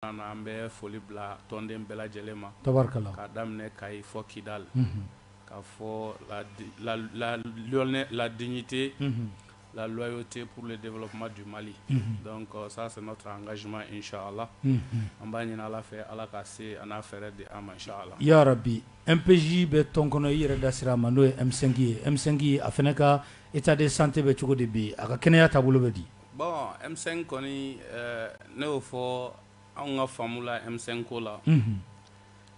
An bɛ foli bila tɔnden bɛɛ lajɛlen ma k'a daminɛ Kayi fɔ Kidal k'a fɔ la dignité la loyauté pour le développement du Mali donc ça c'est notre engagement inchallah an b'a ɲini ala fɛ ala ka se an'a fɛɛrɛ di an ma inchallah ya rabbi MPJ bɛ tɔn kɔnɔ i yɛrɛ da sira a ma n'o ye M5 ye M5 a fana ka état de santé bɛ cogo di bi a ka kɛnɛya taabolo bɛ di Bɔn e kɔni ne y'o fɔ anw ka faamula e ko la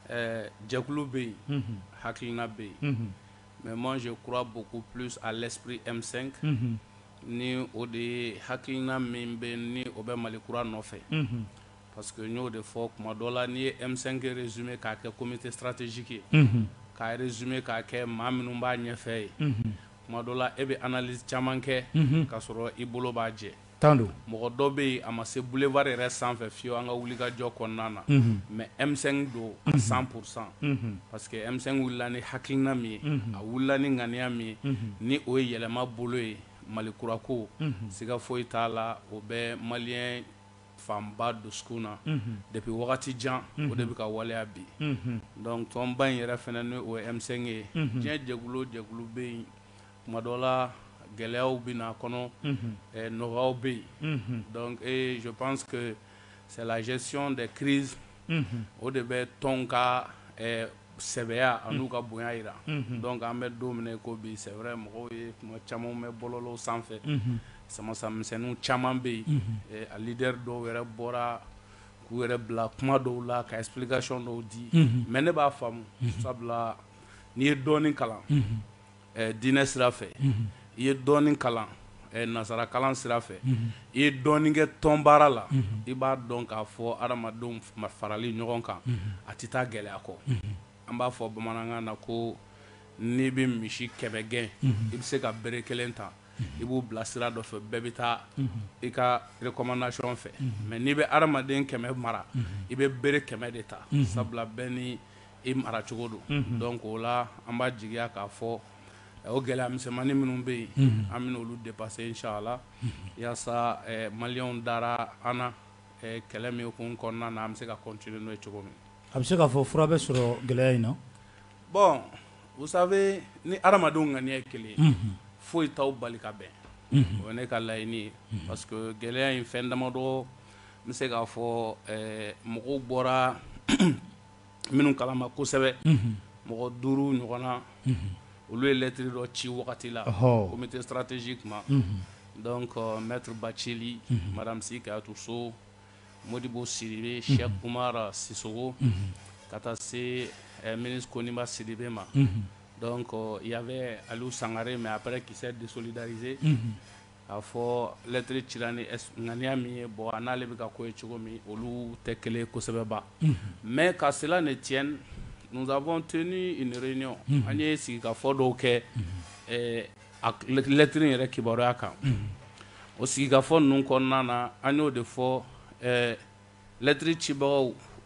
ɛɛ jɛkulu bɛ yen hakiina bɛ yen mɛ mase kura bɔ ko p a laspri e ni o de ye hakiina min bɛ ni o bɛ mali kura nɔfɛ pa que n'o de fɔ kuma dɔ la n'i ye eɛnɛnke zoom k'a kɛ komimi tɛ sararatezsi ye k'a yɛrɛ zoom k'a kɛ maa minnu b'a ɲɛfɛ ye Kuma dɔ la e bɛ analyse caman kɛ k'a sɔrɔ i bolo b'a jɛ, tan don, mɔgɔ dɔ bɛ yen a ma se boulevard yɛrɛ sanfɛ fiyew an ka wulikajɔ kɔnɔna na mais M5 don à 100 pour 100 parce que M5 wulila ni hakilina min ye a wulila ni ŋaniya min ye ni o ye yɛlɛma bolo ye Mali kura ko siga foyi t'a la o bɛ maliyɛn fanba dusukun na depuis wagati jan o de bɛ ka waleya bi donc tɔnba in yɛrɛ fana n'o ye M5 ye diɲɛ jɛkulu o jɛkulu bɛ yen kuma dɔ la gɛlɛyaw bɛ na a kɔnɔ nɔgɔyaw bɛ yen donc je pense que c'est la gestion des crises o de bɛ tɔn ka sɛbɛya an'u ka bonya jira donc an bɛ don min na ko bi c'est vrai mɔgɔw ye kuma caman mɛn bɔlɔlɔw sanfɛ samamisɛnninw caman bɛ yen a leader dɔw yɛrɛ bɔra k'u yɛrɛ bila kuma dɔw la ka explication dɔw di mais ne b'a faamu sabula n'i ye dɔɔnin kalan diinɛ sira fɛ i ye dɔɔnin kalan nansara kalan sira fɛ i ye dɔɔnin kɛ tɔn baara la i b'a dɔn k'a fɔ adamadenw farali ɲɔgɔn kan a tɛ taa gɛlɛya kɔ an b'a fɔ bamanankan na ko n'i bɛ misi kɛmɛ gɛn i bɛ se ka bere kelen ta i b'u bila sira dɔ fɛ bɛɛ bɛ taa i ka recommandation fɛ mais n'i bɛ adamaden kɛmɛ mara i bɛ bere kɛmɛ de ta sabula bɛɛ ni i mara cogo don donc o la an b'a jigiya k'a fɔ o gɛlɛya misɛnmannin minnu bɛ yen an bɛna olu dépasser inchallah yaasa maliyɛnw dara an na kɛlɛ min hukumu kɔnɔna na an bɛ se ka continuer n'o ye cogo min a bɛ se k'a fɔ fura bɛ sɔrɔ gɛlɛya in na bon vous savez ni adamadenw ŋaniya ye kelen ye foyi t'aw bali ka bɛn o ye ne ka laɲini ye parce que gɛlɛya in fɛn damadɔ N bɛ se k'a fɔ mɔgɔw bɔra minnu kala ma kosɛbɛ mɔgɔ duuru ɲɔgɔn na olu yelɛttiriri dɔ ci wagati la ko n bɛ tɛ sararatez kuma dɔn mɛuruba celi mara bɛ se ka to so mɔdibo siri si kumara siso ka taa se mini ko niba siribe ma dɔn yan bɛ ali sangare mɛ a bɛ kisɛ desolidarize K'a fɔ lettre cira ni ŋaniya min ye bon a n'ale bɛ ka ko ye cogo min olu tɛ kelen kosɛbɛba mais qu'à cela ne tienne nous avons tenu une réunion an ye sigikafɔ dɔw kɛ a lettre in yɛrɛ kibaruyaya kan o sigikafɔ ninnu kɔnɔna na an y'o de fɔ lettre cibagaw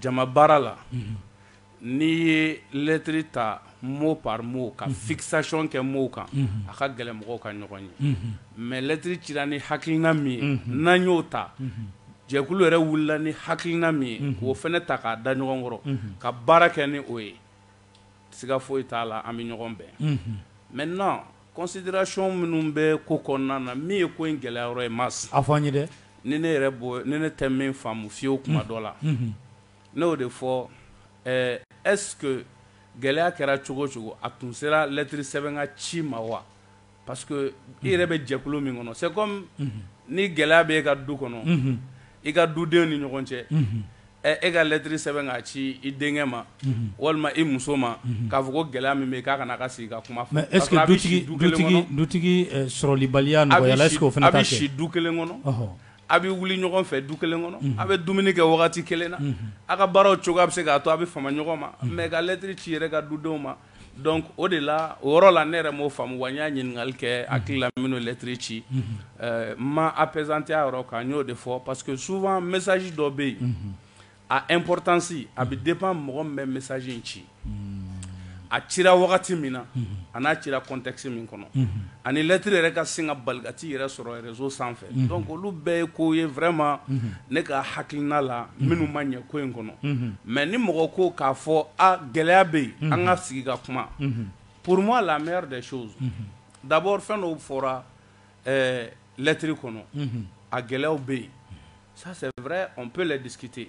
jama baara la n'i ye lettre ta mot par mot ka fixation kɛ mot kan a ka gɛlɛn mɔgɔw ka ɲɔgɔn ye mɛlɛtri ci ni hakiina min ye n'an y'o ta jɛkulu yɛrɛ wulila ni hakilina min ye k'o fana ta k'a da ɲɔgɔn kɔrɔ ka baara kɛ ni o ye siga foyi t'a la an bɛ ɲɔgɔn bɛn maintenant Considération minnu bɛ ko kɔnɔna na min ye ko in gɛlɛya yɔrɔ ye ma a fɔ an ye dɛ ni ne yɛrɛ bon ne ne tɛ min faamu fiyewu kuma dɔ la ne y'o de fɔ est-ce que gɛlɛya kɛra cogo cogo a tun sera lettre sɛbɛn ka ci ma wa parce que i yɛrɛ bɛ jɛkulu min kɔnɔ c'est comme ni gɛlɛya bɛ e ka du kɔnɔ i ka dudenw ni ɲɔgɔn cɛ ɛ e ka lettre sɛbɛn k'a ci i denkɛ ma walima i muso ma k'a fɔ ko gɛlɛya min bɛ k'a ka na ka sigi ka kuma fɔ sɔrɔlibaliya bɛ si du kelen kɔnɔ a bɛ wuli ɲɔgɔn fɛ du kelen kɔnɔ a bɛ dumuni kɛ wagati kelen na a ka baaraw cogoya a bɛ se k'a to a bɛ fama ɲɔgɔn ma mais ka lettre ci yɛrɛ ka dudenw ma Donc o de la o yɔrɔ la ne yɛrɛ m'o faamu wa n y'a ɲininkali kɛ n hakili la minnu ye lettre ci n ma appesantir a yɔrɔ kan n y'o de fɔ parce que souvent message dɔ bɛ yen a importance a bɛ dépend mɔgɔ min bɛ message in ci a cira wagati min na a n'a cira contexte min kɔnɔ. ani lettre yɛrɛ ka sin ka bali ka t'i yɛrɛ sɔrɔ réseau sanfɛ donc olu bɛɛ ye ko ye vraiment ne ka hakilina la minnu ma ɲɛ ko in kɔnɔ mais ni mɔgɔ ko k'a fɔ a gɛlɛya bɛ yen an ka sigi ka kuma pour moi la meilleure des choses d'abord fɛn dɔw fɔra lettre kɔnɔ a gɛlɛyaw bɛ yen ça c'est vrai on peut le discuter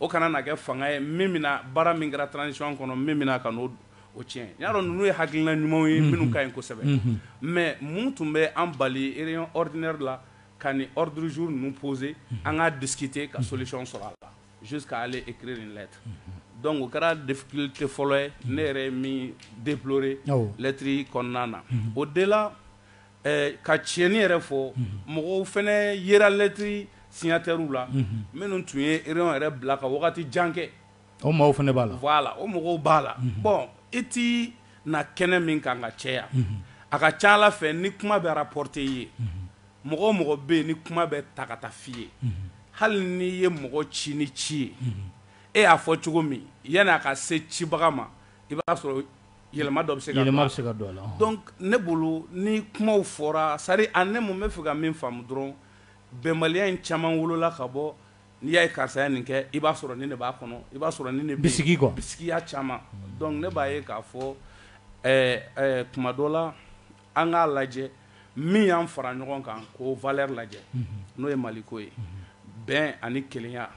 O kana na kɛ fanga ye min bɛna baara min kɛra transition kɔnɔ min bɛ na ka n'o o tiɲɛ n y'a dɔn ninnu ye hakilina ɲumanw ye minnu ka ɲi kosɛbɛ mais mun tun bɛ an bali réunion ordinaire la ka nin ordre du jour ninnu poser an k'a discuter ka solution sɔrɔ a la jusqu'à aller écrire une lettre donc o kɛra difficulté fɔlɔ ye ne yɛrɛ ye min déplorer lettre kɔnɔna na au delà Ka tiɲɛni yɛrɛ fɔ mɔgɔw fana yera lettre signataires la minnu tun ye réunion yɛrɛ bila ka wagati jan kɛ o maaw fana b'a la voilà o mɔgɔw b'a la bon i tɛ na kɛnɛ min kan ka caya a ka ca ala fɛ ni kuma bɛ rapporter i ye mɔgɔ o mɔgɔ bɛ yen ni kuma bɛ ta ka taa f'i ye hali n'i ye mɔgɔ ci ni ci ye e y'a fɔ cogo min yanni a ka se cibaga ma i b'a sɔrɔ yɛlɛma dɔ bɛ se yɛlɛma bɛ se ka don a la donc ne bolo ni kumaw fɔra c'est à dire ani ne mun bɛ fɛ ka min faamu dɔrɔn bɛnbaliya in caman wolola ka bɔ n'i y'a ye karisa ye nin kɛ i b'a sɔrɔ nin de b'a kɔnɔ i b'a sɔrɔ nin de bɛ bisigi quoi bisigiya caman donc ne b'a ye k'a fɔ kuma dɔ la an k'a lajɛ min y'an fara ɲɔgɔn kan k'o valeur lajɛ n'o ye maliko ye bɛn ani kelenya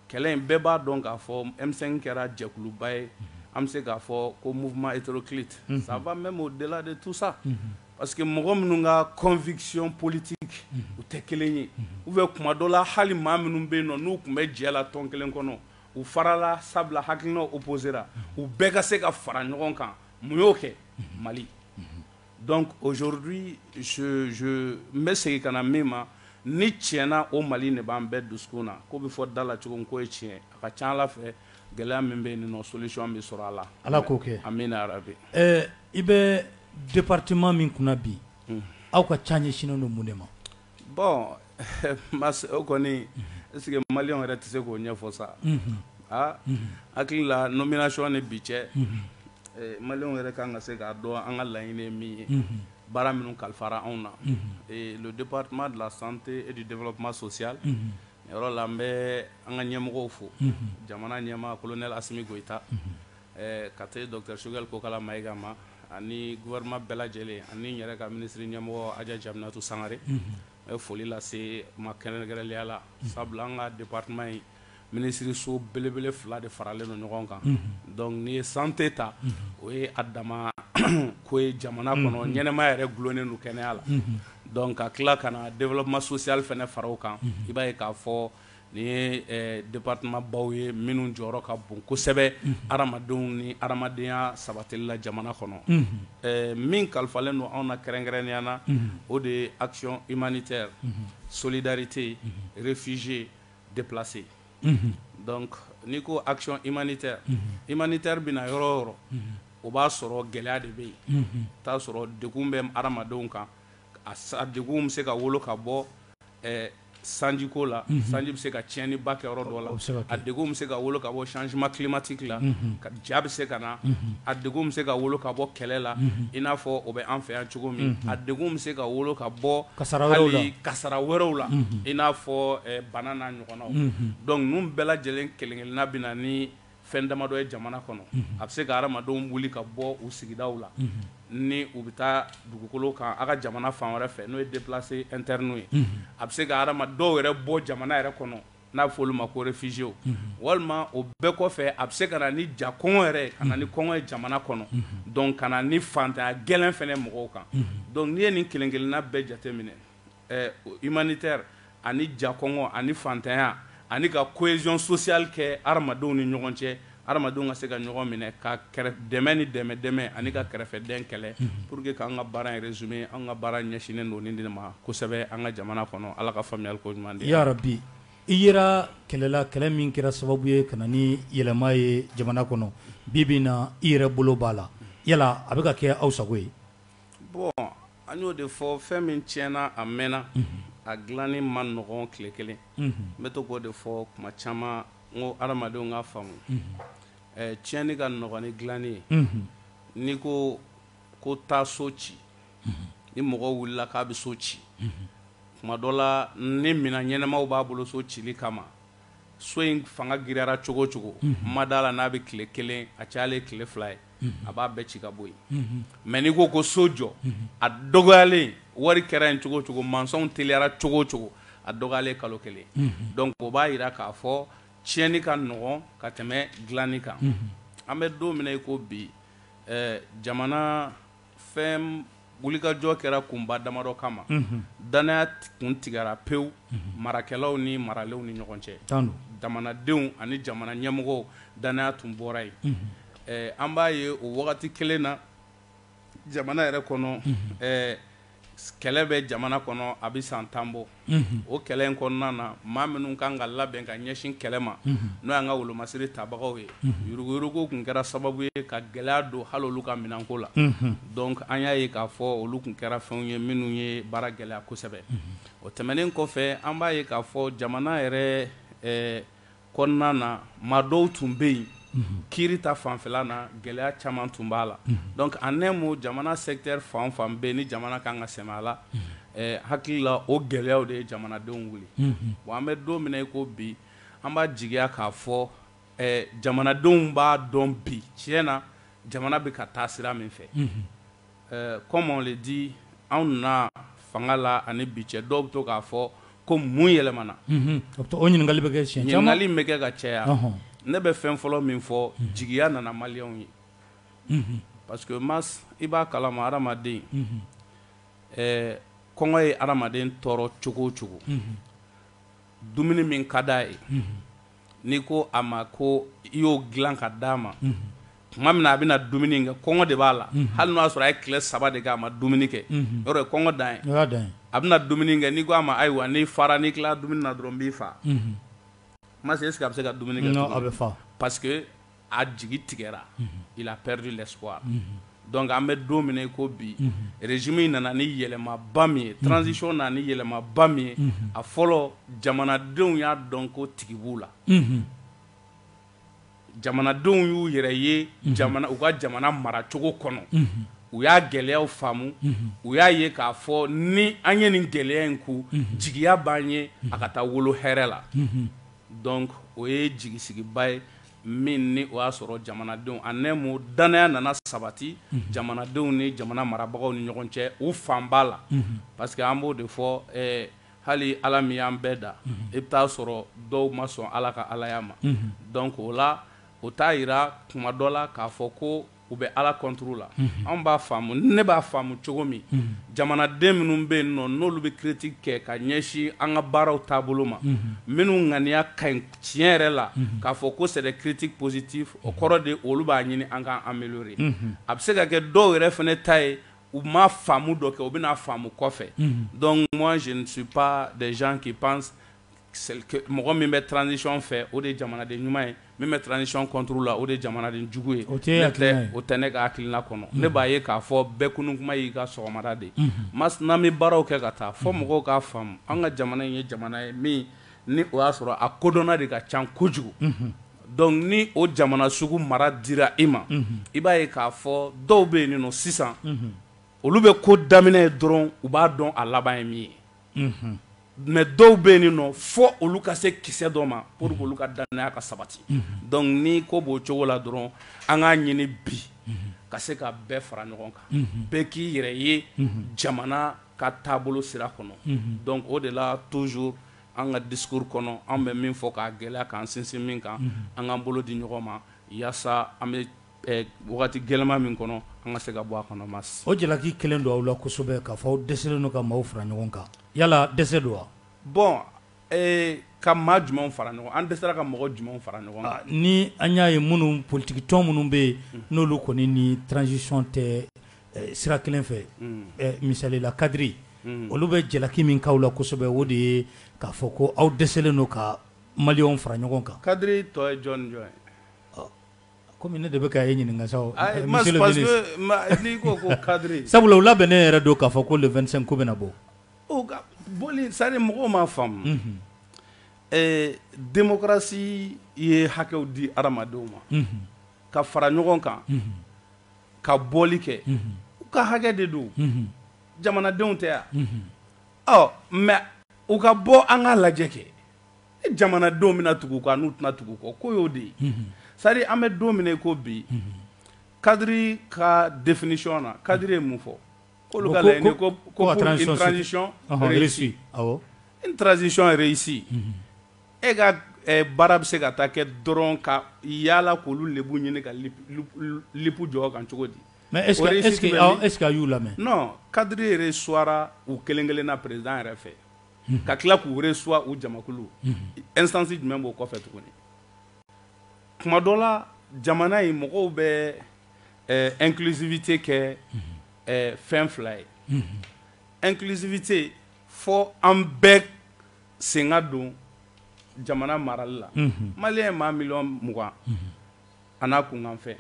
Kɛlɛ in bɛɛ b'a dɔn k'a fɔ M5 kɛra jɛkuluba ye, an bɛ se k'a fɔ ko mouvement hétéroclite, unhun, ça va même au delà de tout ça, unhun, parce que mɔgɔ minnu ka conviction politique u tɛ kelen ye, unhun, ou bien tuma dɔ la hali maa minnu bɛ yen nɔ n'u tun bɛ jɛ la tɔn kelen kɔnɔ u farala sabula hakilinaw opposera u bɛɛ ka se ka fara ɲɔgɔn kan mun y'o kɛ? Mali. Donc aujourd'hui je n bɛ segin ka na min ma ni tiɲɛ na o mali de b'an bɛɛ dusukun na ko bɛ fɔ da la cogo min k'o ye tiɲɛ a ka ca ala fɛ gɛlɛya min bɛ yen nɔ solution bɛ sɔrɔ a la ala k'o kɛ amina yarabi i bɛ département min kunna bi aw ka ca ɲɛsinnen don mun de ma Bon ma o kɔni est-ce que maliyɛnw yɛrɛ tɛ se k'o ɲɛfɔ sa aa hakili la nomination ni bi cɛ maliyɛnw yɛrɛ ka kan ka se k'a dɔn an ka laɲini min ye baara minnu kalifara anw na le département de la santé et du développement social yɔrɔ la n bɛ an ka ɲɛmɔgɔw fo jamana ɲɛmaa colonel Asimi Goyita Ɛɛ ka se docteur Choguel Kokala Maïga ma ani gouvernement bɛɛ lajɛlen ani n yɛrɛ ka ministre ɲɛmɔgɔ Hadja Diaminatou Sangare n bɛ foli lase u ma kɛrɛnkɛrɛnnenya la sabula an ka département in minisiriso belebele fila de faralen don ɲɔgɔn kan donc n'i ye santé ta o ye a dama ko ye jamana kɔnɔ ɲɛnɛmaya yɛrɛ dulonnen don kɛnɛya la donc ka tila ka na développement social fana fara o kan i b'a ye k'a fɔ Nin ye départementbaw ye minnu jɔyɔrɔ ka bon kosɛbɛ adamadenw ni adamadenya sabatili la jamana kɔnɔ min kalifalen don anw na kɛrɛnkɛrɛnnenya na o de ye action humanitaire solidarité réfugiés déplacés donc n'i ko action humanitaire humanitaire bɛ na yɔrɔ o yɔrɔ o b'a sɔrɔ gɛlɛya de bɛ yen t'a sɔrɔ degun bɛ adamadenw kan a degun bɛ se ka wolo ka bɔ sanjiko la sanji bɛ se ka tiɲɛniba kɛ yɔrɔ dɔ la a degun bɛ se ka wolo ka bɔ changement climatique la ja bɛ se ka na a degun bɛ se ka wolo ka bɔ kɛlɛ la i n'a fɔ o bɛ an fɛ yan cogo min a degun bɛ se ka wolo ka bɔ hali kasara wɛrɛw la i n'a fɔ bana n'a ɲɔgɔnnaw donc ninnu bɛɛ lajɛlen kelen-kelenna bɛ na ni Fɛn damadɔ ye jamana kɔnɔ a bɛ se ka hadamadenw wuli ka bɔ u sigidaw la ni u bɛ taa dugukolo kan a ka jamana fan wɛrɛ fɛ n'o ye déplacé interne ye a bɛ se ka hadamaden dɔw yɛrɛ bɔ jamana yɛrɛ kɔnɔ n'a bɛ fɔ olu ma ko réfugiéw walima o bɛɛ kɔfɛ a bɛ se ka na ni ja kɔngɔ yɛrɛ ka na ni kɔngɔ ye jamana kɔnɔ donc ka na ni fantanya gɛlɛn fɛnɛ mɔgɔw kan donc n'i ye nin kelen-kelenna bɛɛ jateminɛ Ɛɛ o humanitaire ani ja kɔngɔ ani fantanya ani ka cohésion sociale kɛ hadamadenw ni ɲɔgɔn cɛ, hadamadenw ka se ka ɲɔgɔn minɛ ka kɛrɛ dɛmɛ ni dɛmɛ dɛmɛ ani ka kɛrɛfɛdɛn kɛlɛ pour que k'an ka baara in résumé an ka baara ɲɛsinnen don nin de ma kosɛbɛ an ka jamana kɔnɔ. Ala ka faamuyali ko ɲuman di, Yarabi! I yera kɛlɛ la, kɛlɛ min kɛra sababu ye ka na ni yɛlɛma ye jamana kɔnɔ, bi bi in na i yɛrɛ bolo b'a la, yala a bɛ ka kɛ aw sago ye? Bon An y'o de fɔ fɛn min tiɲɛna a mɛnna a dilanni man nɔgɔn tile kelen n bɛ to k'o de fɔ kuma caman n ko hadamadenw k'a faamu tiɲɛni ka nɔgɔn ni dilanni ye n'i ko ko taa so ci ni mɔgɔ wulila k'a bɛ so ci kuma dɔ la ni minɛn ɲɛnamaw b'a bolo so cili kama so in fanga giriyara cogo o cogo n ma d'a la n'a bɛ tile kelen a cayalen tile fila ye a b'a bɛɛ ci ka bɔ yen mais n'i ko ko so jɔ a dɔgɔyalen wari kɛra yen cogo o cogo mansɔnw teliyara cogo o cogo a dɔgɔyalen kalo kelen donc o b'a yira k'a fɔ tiɲɛni ka nɔgɔn ka tɛmɛ dilanni kan an bɛ don min na i ko bi jamana fɛn wulikajɔ kɛra kunba damadɔ kama unhun danaya t kun tigɛra pewu unhun marakɛlaw ni maralenw ni ɲɔgɔn cɛ tan don jamanadenw ani jamana ɲɛmɔgɔw danaya tun bɔra yen unhun ɛɛ an b'a ye o wagati kelen na jamana yɛrɛ kɔnɔ unhun ɛɛ s kɛlɛ bɛ jamana kɔnɔ a bɛ san 10 bɔ o kɛlɛ in kɔnɔna na maa minnu kan ka labɛn ka ɲɛsin kɛlɛ ma n'o y'an ka wolomasiri tabagaw ye yuruguyurugu kun kɛra sababu ye ka gɛlɛya don hali olu ka minɛnko la donc an y'a ye k'a fɔ olu kun kɛra fɛnw ye minnu ye baara gɛlɛya kosɛbɛ o tɛmɛnen kɔfɛ an b'a ye k'a fɔ jamana yɛrɛ kɔnɔna na maa dɔw tun bɛ yen kiiri ta fanfɛla na gɛlɛya caman tun b'a la donc en un mot jamana secteur fan o fan bɛ yen ni jamana kan ka sɛmɛ a la ɛɛ hakili la o gɛlɛyaw de ye jamanadenw wuli bon an bɛ don min na i ko bi an b'a jigiya k'a fɔ ɛɛ jamanadenw b'a dɔn bi tiɲɛ na jamana bɛ ka taa sira min fɛ. Comme on le dit anw na fanga la ani bi cɛ dɔw bɛ to k'a fɔ ko mun yɛlɛmana o ɲininkali bɛ kɛ ɲininkali bɛ kɛ ka caya ne bɛ fɛn fɔlɔ min fɔ jigiya nana maliyɛnw ye parce que Mas i b'a kalama hadamaden kɔngɔ ye hadamaden tɔɔrɔ cogo o cogo dumuni min ka di a ye n'i ko a ma ko i y'o dilan ka d'a ma tuma min na a bɛna dumuni kɛ kɔngɔ de b'a la hali n'o y'a sɔrɔ a ye tile saba de kɛ a ma dumuni kɛ yɔrɔ ye kɔngɔ dan ye a bɛna dumuni kɛ n'i ko a ma ayiwa n'i fara n'i tila dumuni na dɔrɔn n b'i faa Mas est-ce que a bɛ se ka dumuni kɛ a bɛ fa parce que a jigi tigɛra il a perdu l'espoir donc an bɛ don min na i ko bi régime in nana ni yɛlɛmaba min ye transition nana ni yɛlɛmaba min ye a fɔlɔ jamanadenw y'a dɔn ko tigi b'u la jamanadenw y'u yɛrɛ ye jamana u ka jamana maracogo kɔnɔ u y'a gɛlɛyaw faamu u y'a ye k'a fɔ ni an ye nin gɛlɛya in ku jigiya b'an ye a ka taa wolo hɛrɛ la Donc o ye jigisigiba ye min ni o y'a sɔrɔ jamanadenw en un mot danaya nana sabati jamanadenw ni jamana marabagaw ni ɲɔgɔn cɛ u fanba la parce que an b'o de fɔ hali ala min y'an bɛɛ da i bɛ taa a sɔrɔ dɔw ma sɔn ala ka alaya ma donc o la o t'a yira kuma dɔ la k'a fɔ ko u bɛ ala contre la anw b'a faamu ne b'a faamu cogo min jamanaden minnu bɛ yen nɔ n'olu bɛ critique kɛ ka ɲɛsin an ka baaraw taabolo ma minnu ŋaniya ka ɲi tiɲɛ yɛrɛ la k'a fɔ ko c'est des critiques positives o kɔrɔ de olu b'a ɲini an k'an améliorer a bɛ se ka kɛ dɔw yɛrɛ fana ta ye u ma faamu dɔ kɛ u bɛna faamu kɔfɛ donc moi je ne suis pas des gens qui pensent mɔgɔ min bɛ transition fɛ o de ye jamanaden ɲuman ye min bɛ transition contre la o de ye jamanaden jugu ye, o tɛ, o tɛ ne ka hakilina kɔnɔ, ne b'a ye k'a fɔ bɛɛ kunun tuma y'i ka sɔgɔmada de ye, unhun, n'an bɛ baaraw kɛ ka taa fɔ mɔgɔw k'a faamu an ka jamana in ye jamana ye min ni o y'a sɔrɔ a kodɔnna de ka ca kojugu, unhun, donc ni o jamana sugu mara dira i ma, unhun, i b'a ye k'a fɔ dɔw bɛ yen nɔ sisan, unhun, olu bɛ ko daminɛ ye dɔrɔn u b'a dɔn a laban ye min ye mais dɔw bɛ yen nɔ fɔ olu ka se kisɛ dɔ ma pour que olu ka danaya ka sabati donc ni ko b'o cogo la dɔrɔn an k'a ɲini bi ka se ka bɛɛ fara ɲɔgɔn kan bɛɛ k'i yɛrɛ ye jamana ka taabolo sira kɔnɔ donc o de la toujours an ka discours kɔnɔ an bɛ min fɔ k'a gɛlɛya k'an sinsin min kan an k'an bolo di ɲɔgɔn ma walasa an bɛ Wagati gɛlɛma min kɔnɔ an ka se ka bɔ a kɔnɔ mais o jalaki kɛlen don aw la kosɛbɛ k'a fɔ aw dɛsɛlen don ka maaw fara ɲɔgɔn kan yala dɛsɛ don wa bon ka maa jumɛn fara ɲɔgɔn an dɛsɛra ka mɔgɔ jumɛn fara ɲɔgɔn kan ni an y'a ye minnu politikitɔn minnu bɛ yen n'olu kɔni ni transition tɛ sira kelen fɛ misalila kadiri olu bɛ jalaki min k'aw la kosɛbɛ o de ye k'a fɔ ko aw dɛsɛlen don ka maliyɛnw fara ɲɔgɔn kan kadiri tɔ ye jɔn jɔn ye Kɔmi ne de bɛ ka e ɲininka sa o, ayi, parce que n'i ko ko cadre sabula u labɛnnen yɛrɛ don k'a fɔ ko le 25 k'u bɛna bɔ, u ka bɔli c'est à dire mɔgɔw m'a faamu, unhun, ɛɛ démocratie ye hakɛw di hadamadenw ma, unhun, ka fara ɲɔgɔn kan, unhun, ka bɔli kɛ, unhun, u ka hakɛ de don, unhun, jamanadenw tɛ wa, unhun, ɔ mais u ka bɔ an k'a lajɛ kɛ e jamana don min tugu kan n'u tɛna tugu kɔ ko y'o de ye sari an bɛ don min ko bi kadi ka defsiɔn na kadi ye mun fɔ kolo ko n trazsiɔnresi e ka baara bɛ se ka taa kɛ dɔrɔn ka yalala k olu de ɲini ka lip jɔ kan cogo di mɛ e e e y'u lamɛn kadi yɛrɛ suwa u kelen kelen na perezd yɛrɛ fɛ ka tila k'u reçoit u jamakulu instance jumɛn b'o kɔfɛ tuguni kuma dɔ la jamana in mɔgɔw bɛ inclusivité kɛ fɛn fila ye inclusivité fɔ an bɛɛ sen ka don jamana marali la maliyɛn maa miliyɔn mugan a n'a kunkanfɛn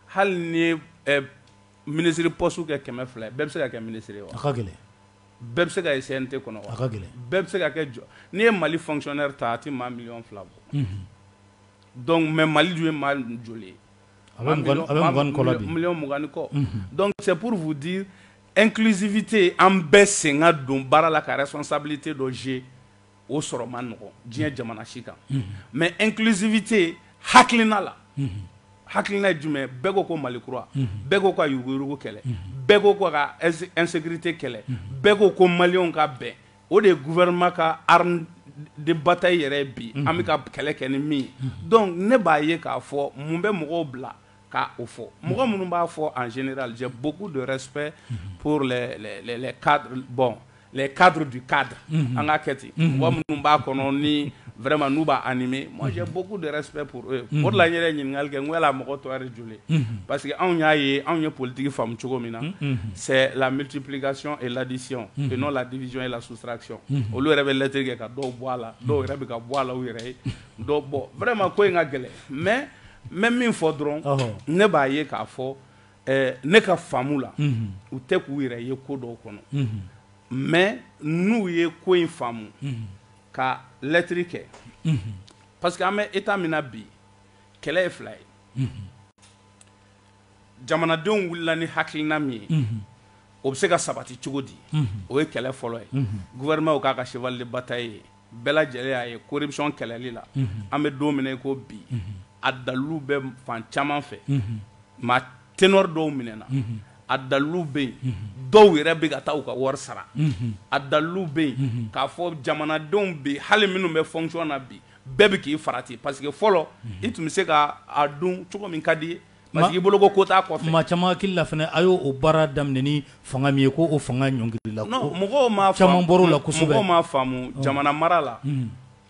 hali n'i ye minisiri pɔsitiw kɛ kɛmɛ fila ye bɛɛ bɛ se ka kɛ minisiri ye bɛɛ bɛ se ka ye CNT kɔnɔ wa? A ka gɛlɛn. Bɛɛ bɛ se ka kɛ jɔ n'i ye Mali fonctionnaire ta a tɛ maa miliyɔn fila bɔ. Unhun. Donc mais Mali dun ye maa joli ye? A bɛ mugan a bɛ mugan ni kɔ la bi. Miliyɔn mugan ni kɔ. Unhun. Donc c'est pour vous dire inclusivité an bɛɛ sen ka don baara la ka responsabilité dɔ jouer o sɔrɔ man nɔgɔn diɲɛ jamana si kan mais inclusivité hakilina la hakilina jumɛn bɛɛ ko ko mali kura bɛɛ ko ka yuruguyurugu kɛlɛ bɛɛ ko ko ka insécurité kɛlɛ bɛɛ ko ko maliyɛnw ka bɛn o de ye gouvernement ka arme de bataille yɛrɛ bi an bɛ ka kɛlɛ kɛ ni min ye donc ne b'a ye k'a fɔ mun bɛ mɔgɔw bila k' o fɔ mɔgɔ minnu b'a fɔ an sen jɛ bbugu dɔ sɛ bɔn kadi di ka an ka kɛ ten mɔgɔ minnu b'a kɔnɔ ni wɛrɛma n'u b'a ni min mɔjɛ bbugu dɔ sɛ p mori la yɛrɛ ɲininkakali kɛ n la mɔgɔ tɔgɔ joli parce que anw y'a ye anw ye politigi faamu cogo min na sɛ lamitiplikasiɔn e ladisi n'o ladij e la suturac olu yɛrɛ bɛ lɛtɛ kɛ ka dɔw bɔ a la dɔw yɛrɛ bɛ ka bɔ a la yɛrɛ ye dɔw bɔ wɛrɛma ko in ka gɛlɛn mɛ Mais min fɔ dɔrɔn ne b'a ye k'a fɔ ne ka faamu la u tɛ k'u yɛrɛ ye ko dɔw kɔnɔ mais n'u ye ko in faamu ka lettre kɛ parce que an bɛ état min na bi kɛlɛ ye fila ye jamanadenw wulila ni hakilina min ye o bɛ se ka sabati cogo di o ye kɛlɛ fɔlɔ ye gouvernement k'a ka cheval de bataille ye bɛɛ lajɛlen y'a ye corruption kɛlɛli la, unhun, an bɛ don min na i ko bi, unhun, a dalilu bɛ fan caman fɛ, unhun, maa ténor dɔw minɛna, unhun, a dalilu bɛ yen, unhun, dɔw yɛrɛ bɛ ka taa u ka wari sara, unhun, a dalilu bɛ yen, unhun, k'a fɔ jamanadenw bi hali minnu bɛ fonction na bi bɛɛ bɛ k'i farati parce que fɔlɔ, unhun, i tun bɛ se ka a dun cogo min ka d'i ye. Parce que i bolo ko ko t'a kɔfɛ, maa caman hakili la fana a y'o baara daminɛ ni fanga min ye ko o fanga ɲɔngirila, non mɔgɔw m'a faamu, caman bɔra o la kosɛbɛ, mɔgɔw m'a faamu jamana mara la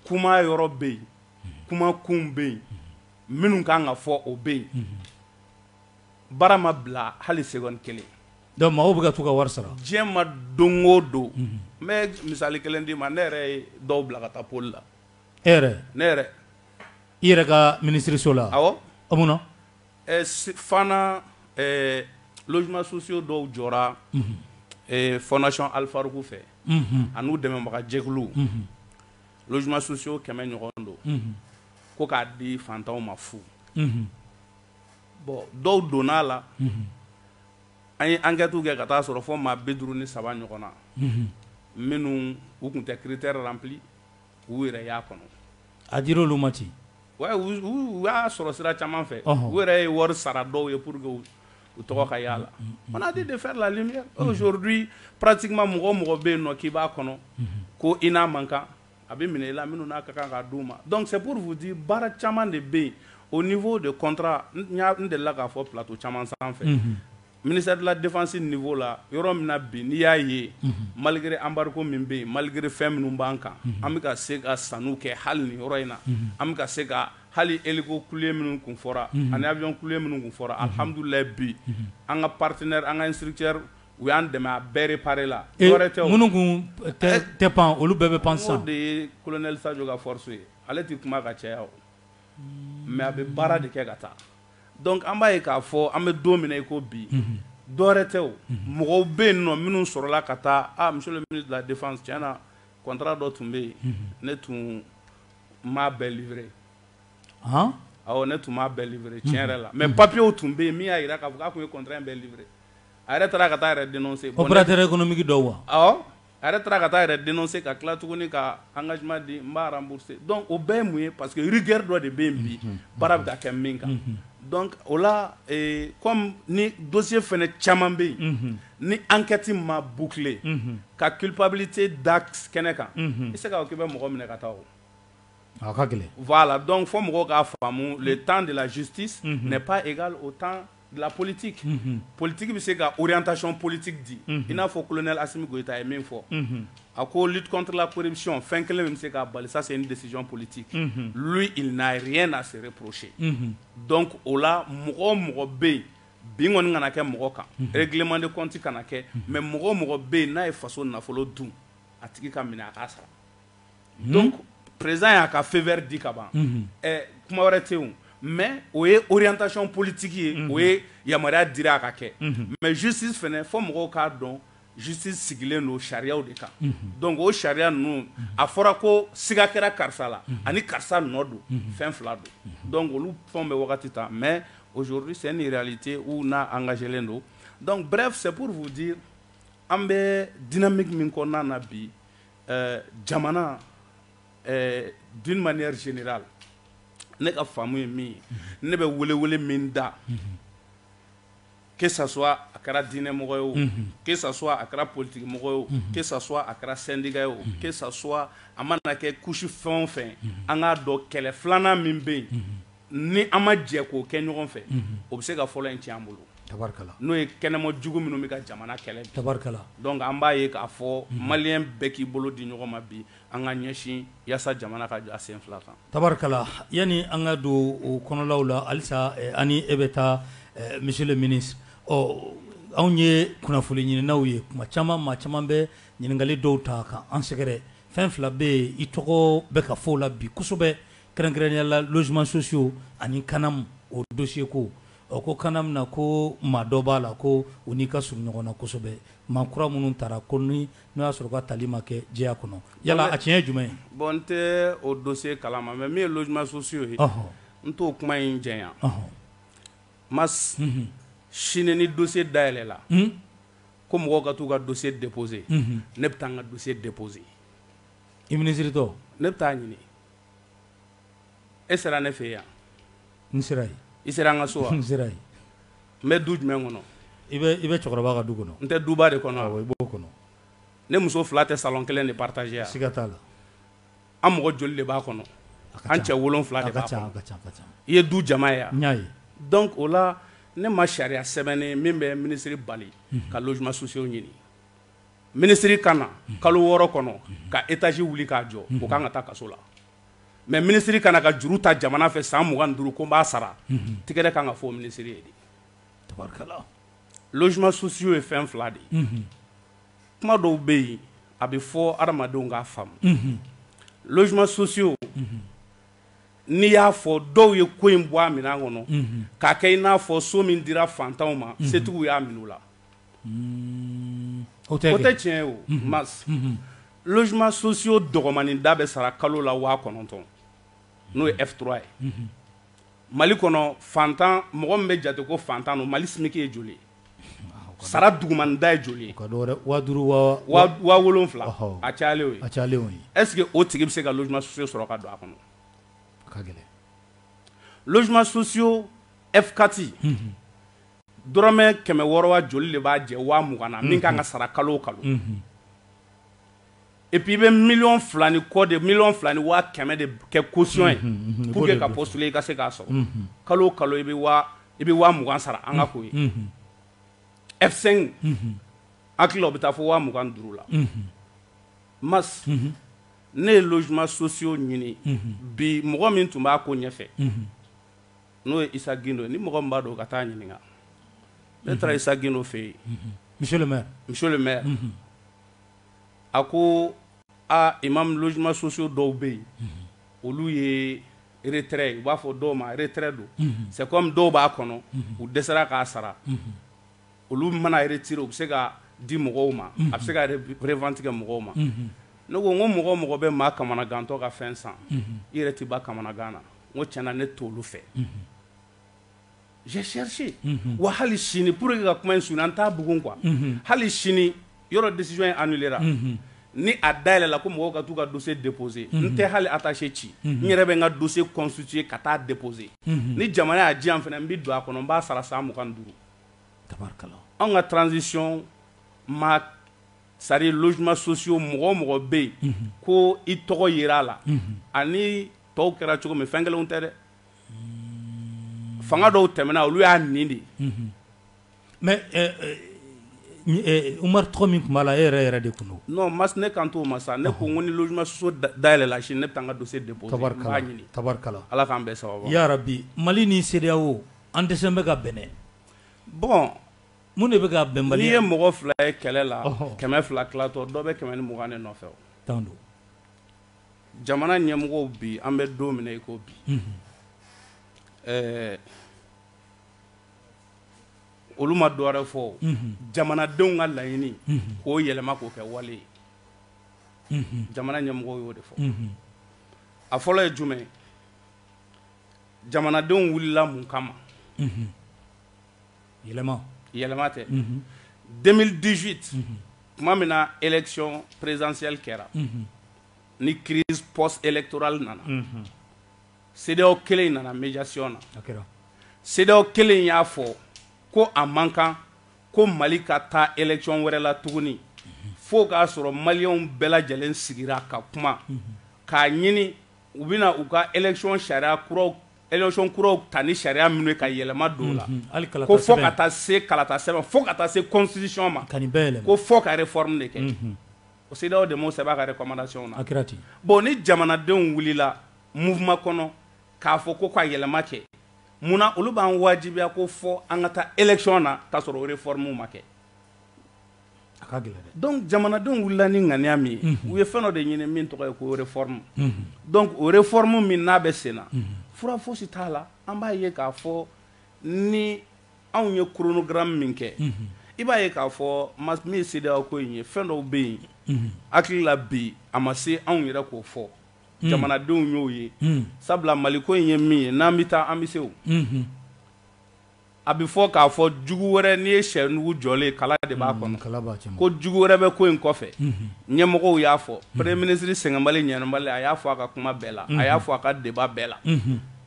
kuma yɔrɔ bɛ yen, kuma kun bɛ yen minnu ka kan ka fɔ o bɛ yen, baara ma bila hali seconde kelen, donc maaw bɛ ka t'u ka wari sara, diɲɛ ma don o don n bɛ misali kelen d'i ma ne yɛrɛ ye dɔw bila ka taa pôle la e yɛrɛ ne yɛrɛ i yɛrɛ ka minisiriso la awɔ munna fana logements sociaux dɔw jɔra fondation Al Farouk fɛ ani u dɛmɛbagajɛkulu logements sociaux kɛmɛ ɲɔgɔn don ko k'a di faantanw ma fu bon dɔw donna a la an ye enquêtew kɛ ka taa a sɔrɔ fo maa bi duuru ni saba ɲɔgɔn na minnu u tun tɛ critère rempli u yɛrɛ y'a kɔnɔ a dira olu ma ten wa u y'a sɔrɔ sira caman fɛ u yɛrɛ ye wari sara dɔw ye pour que u tɔgɔ ka y'a la on a dit de faire la lumière aujourd'hui pratiquement mɔgɔ o mɔgɔ bɛ yen nɔ k'i b'a kɔnɔ ko i n'a man kan a bɛ minɛ i la minnu n'a ka kan k'a d'u ma donc c'est pour vous dire baara caman de bɛ yen au niveau de contrat n delila k'a fɔ plateau caman sanfɛ Ministère de la défense niveau la yɔrɔ min na bi n'i y'a ye malgré embargo min bɛ yen malgré fɛn minnu b'an kan an bɛ ka se ka sanniw kɛ hali nin yɔrɔ in na an bɛ ka se ka hali hélico cloué minnu kun fɔra ani avion cloué minnu kun fɔra alhamdoulilahi bi an ka partenaires an ka instructeurs u y'an dɛmɛ a bɛɛ réparer la minnu kun tɛ pan olu bɛɛ bɛ pan sisan n'o de ye colonel Sadio ka force ye ale tɛ kuma ka caya o mais a bɛ baara de kɛ ka taa dɔnkuc an b'a ye k'a fɔ an bɛ don min i ko bi dɔɛrɛ tɛ o mɔgɔw bɛ yen nɔ minnu sɔrɔla ka taa muso bila de tiɲɛna na kɔnɔntara dɔ tun bɛ yen ne tun maa bɛɛ lib ɔ ne tun bɛɛ lib tiɲɛ yɛrɛ la mɛ papiyew tun bɛ yen min y'a jira k'a fɔ k'a tun ye kɔntan in bɛɛ lib a yɛrɛ taara ka taa yɛrɛ den se kɔntɛ kɔnɔmge dɔw wa A yɛrɛ taara ka taa yɛrɛ dense ka tila tuguni ka an ka juma di n b'aranuruse dɔn o bɛɛ ye mun ye pa que gɛrɛ dɔ de bɛ yen bi baara bɛ kɛ min kan dɔn o la kɔmi ni donso fana caman bɛ yen ni an kɛti ma bukile ka kipbili tɛ da kɛnɛ kan i bɛ se k' k'i bɛ mɔgɔ minɛ ka taa o ka gɛlɛn la dɔn fɔ mɔgɔw k'a faamumu tan de la sutisi mɛ pan e ka o tan La politique unhun politique bɛ se ka orientation politique di unhun i n'a fɔ colonel Assimi Goita ye min fɔ unhun a ko lutte contre la corruption fɛn kelen min bɛ se k'a bali ça c'est une décision politique unhun lui il n'a rien à se reprocher unhun donc o la mɔgɔ o mɔgɔ bɛ yen bin kɔni kana kɛ mɔgɔ kan unhun règlement de compte kana kɛ mais mɔgɔ o mɔgɔ bɛ yen n'a ye faso nafolo dun a tigi ka minɛ a k'a sara donc président y'a ka feu vert di ka ban ɛɛ kuma wɛrɛ tɛ yen mais o ye orientation politique ye o ye yamaruya dira a ka kɛ mais justice fana fo mɔgɔw k'a dɔn justice sigilen don sariyaw de kan donc o sariya ninnu a fɔra ko siga kɛra karisa la ani karisa nɔ don fɛn fila don donc olu fɛnw bɛ wagati ta mais aujourd'hui c'est une réalité où n'a engagélen don donc bref c'est pour vous dire an bɛ dynamique min kɔnɔna na bi Ɛɛ jamana ɛɛ d'une manière générale ne ka faamu ye min ye ne bɛ welewele min da que ça soit a kɛra diinɛ mɔgɔ ye o que ça soit a kɛra politique mɔgɔ ye o que ça soit a kɛra syndicat ye o que ça soit a mana kɛ couche fɛn o fɛn ye an k'a dɔn kɛlɛ filanan min bɛ yen ni an ma jɛ k'o kɛ ɲɔgɔn fɛ o bɛ se ka fɔlɔ in tiɲɛ an bolo tabarikala n'o ye kɛnɛma jugu minnu bɛ ka jamana kɛlɛ tabarikala donc an b'a ye k'a fɔ maliyɛn bɛɛ k'i bolo di ɲɔgɔn ma bi an ka ɲɛsin yaasa jamana ka jɔ a sen fila kan tabarikala yanni an ka don o kɔnɔlaw la halisa ani e bɛ taa monsieur le ministre anw ye kunnafoni ɲininaw ye kuma caman maa caman bɛ ɲininkali dɔw ta ka an sɛgɛrɛ fɛn fila bɛ yen i tɔgɔ bɛ ka fɔ o la bi kosɛbɛ Kɛrɛnkɛrɛnnenya la logements sociaux ani CANAM o dossier ko ɔ ko CANAM na ko maa dɔ b'a la ko u n'i ka surun ɲɔgɔn na kosɛbɛ maa kura minnu tara ko n'o y'a sɔrɔ ka tali ma kɛ jɛya kɔnɔ yala a tiɲɛ ye jumɛn ye bon n tɛ o dossier kalama mais min ye logements sociaux ye n t'o kuma in janya mais sini ni dossier dayɛlɛla ko mɔgɔw ka t'u ka dossier déposer ne bɛ taa n ka dossier déposer i ministre tɔ ne bɛ taa ɲini E sera ne fɛ yan n sera yen i sera an ka so wa n sera yen n bɛ du jumɛn kɔnɔ i bɛ cɛkɔrɔba ka du kɔnɔ n tɛ duba de kɔnɔ i b'o kɔnɔ ne muso fila tɛ salon kelen de partager yan siga t'a la an mɔgɔ joli de b'a kɔnɔ an cɛ wolonwula de b'a kɔnɔ a ka ca i ye du jama ye yan n y'a ye donc o la ne ma sariya sɛbɛnnen min bɛ ministre bali ka logements sociaux ɲini minisiri ka na kalo wɔɔrɔ kɔnɔ ka étage wuli k'a jɔ o ka kan ka taa kaso la mais minisiri ka na ka juru ta jamana fɛ san mugan ni duuru ko n b'a sara tɛgɛrɛ ka kan ka fɔ minisiri ye dɛ logements sociaux ye fɛn fila de ye kuma dɔw bɛ yen a bɛ fɔ adamadenw k'a faamu logements sociaux n'i y'a fɔ dɔw ye ko in bɔ a minɛn kɔnɔ k'a kɛ i n'a fɔ so min dira fantanw ma setigiw y'a minɛ u la o tɛ tiɲɛ o ma jiman sosiw dɔgɔnin da bɛ sara kalo la waa kɔnɔntɔn n'o ye etura ye mali kɔnɔ fantan mɔgɔ min bɛ jate ko fantan don mali sigilen ye joli sara duguman da ye joli wolonwula a ɛsseke o tigi bɛ se ka so sɔrɔ ka don a kɔnɔ ka gɛlɛn jiman soso e kati dɔrɔmɛ kɛmɛ wɔɔrɔ wa joli de b'a jɛ waa mugan na min ka kan ka sara kalo o kalo et puis i bɛ miliyɔn fila ni kɔ de miliyɔn fila ni waa kɛmɛ de kɛ caution ye pour que ka postuler i ka se k'a sɔrɔ kalo o kalo i bɛ i bɛ waa mugan sara an ka ko ye F cinq n hakili la o bɛ taa fo waa mugan ni duuru la Mas ne ye logements sociaux ɲini bi mɔgɔ min tun b'a ko ɲɛfɛ n'o ye Isa Gindo ni mɔgɔ min b'a dɔn ka taa ɲininka ne taara Isa Gindo fɛ yen monsieur le maire a ko aa imam logements sociaux dɔw bɛ yen olu ye retrait u b'a fɔ dɔw ma retrait don c'est comme dɔw b'a kɔnɔ u dɛsɛra k'a sara olu mana retiré u bɛ se ka di mɔgɔw ma a bɛ se ka revente kɛ mɔgɔw ma ne ko n ko mɔgɔ mɔgɔ bɛ maa kamanagantɔ ka fɛn san i yɛrɛ tɛ ban kamanagan na n ko tiɲɛ na ne t'olu fɛ, unhun, j'ai cherché unhun, wa hali sini pour que ka kuma in surunya n t'a bugun quoi unhun, hali sini yɔrɔ décision in annuléra unhun, ni a dayɛlɛla ko mɔgɔw ka t'u ka dossier déposer unhun, n tɛ hali attaché ci unhun, n yɛrɛ bɛ n ka dossier constituer ka taa déposer unhun, ni jamana y'a di yan fana n bɛ don a kɔnɔ n b'a sara san mugan ni duuru, tabarikala, anw ka transition ma c'est à dire logements sociaux mɔgɔ o mɔgɔ bɛ yen, unhun, ko i tɔgɔ yera a la, unhun, ani tɔw kɛra cogo min fɛn kelenw tɛ dɛ fanga dɔw tɛmɛna olu y'a ni de mhm. mais euh, euh, euh, Umaru tɔgɔ min tun b'a la e yɛrɛ yɛrɛ de tun don non Mas ne kan t'o ma sa ne ko n ko ni logements sociaux dayɛlɛla sini ne bɛ taa n ka dossier déposer n b'a ɲini tabarikala Ala k'an bɛɛ sababu ya rabi Mali ni CEDEAO an dɛsɛlen bɛ ka bɛn bon mun de bɛ ka bɛn bali n'i ye mɔgɔ fila ye kɛlɛ la kɛmɛ fila tilatɔ dɔ bɛ kɛmɛ ni mugan de nɔfɛ o tan don jamana ɲɛmɔgɔw bi an bɛ don min na i ko bi ɛɛ olu ma dɔ wɛrɛ fɔ jamanadenw ka laɲini k'o yɛlɛma k'o kɛ wale ye jamana ɲɛmɔgɔw y'o de fɔ a fɔlɔ ye jumɛn jamanadenw wulila mun kama yɛlɛma tɛ deux mille dix-huit tuma min na élection présidentielle kɛra ni crise post-électorale nana CEDEAO kelen in nana médiation na CEDEAO kelen in y'a fɔ ko a man kan ko mali ka taa élection wɛrɛ la tuguni fo k'a sɔrɔ maliyɛnw bɛɛ lajɛlen sigira ka kuma k'a ɲini u bɛna u ka élection sariya kuraw Élection kuraw ta ni sariya minnu ye ka yɛlɛma don la ko fo ka taa se kalata sɛbɛn fo ka taa se constitution ma ko fo ka réforme de kɛ o CEDEAO de m'o sɛbɛn a ka recommandation na bon ni jamanadenw wulila mouvement kɔnɔ k'a fɔ ko ka yɛlɛma kɛ munna olu b'an wajibiya ko fo an ka taa élection na k'a sɔrɔ o réforme ma kɛ jamanadenw wulila ni ŋaniya min ye u ye fɛn dɔ de ɲini min tɔgɔ ye ko réforme donc o réforme min n'a bɛ sen na fura fosi t'a la an b'a ye k'a fɔ ni anw ye chronogramme min kɛ i b'a ye k'a fɔ min ye CEDEAO ko in ye fɛn dɔw bɛ yen hakili la bi a ma se anw yɛrɛ k'o fɔ jamanadenw y'o ye sabula mali ko in ye min ye n'an bɛ taa an bɛ se A bɛ fɔ k'a fɔ jugu wɛrɛ n'i ye sɛnugu jɔlen ye kala de b'a mm, kɔnɔ ko jugu wɛrɛ bɛ ko in kɔfɛ mm-hmm. ɲɛmɔgɔw y'a fɔ mm-hmm. premier ministre sɛgɛnbali ɲinabali a y'a fɔ a ka kuma bɛɛ la a mm-hmm. y'a fɔ a ka débat bɛɛ la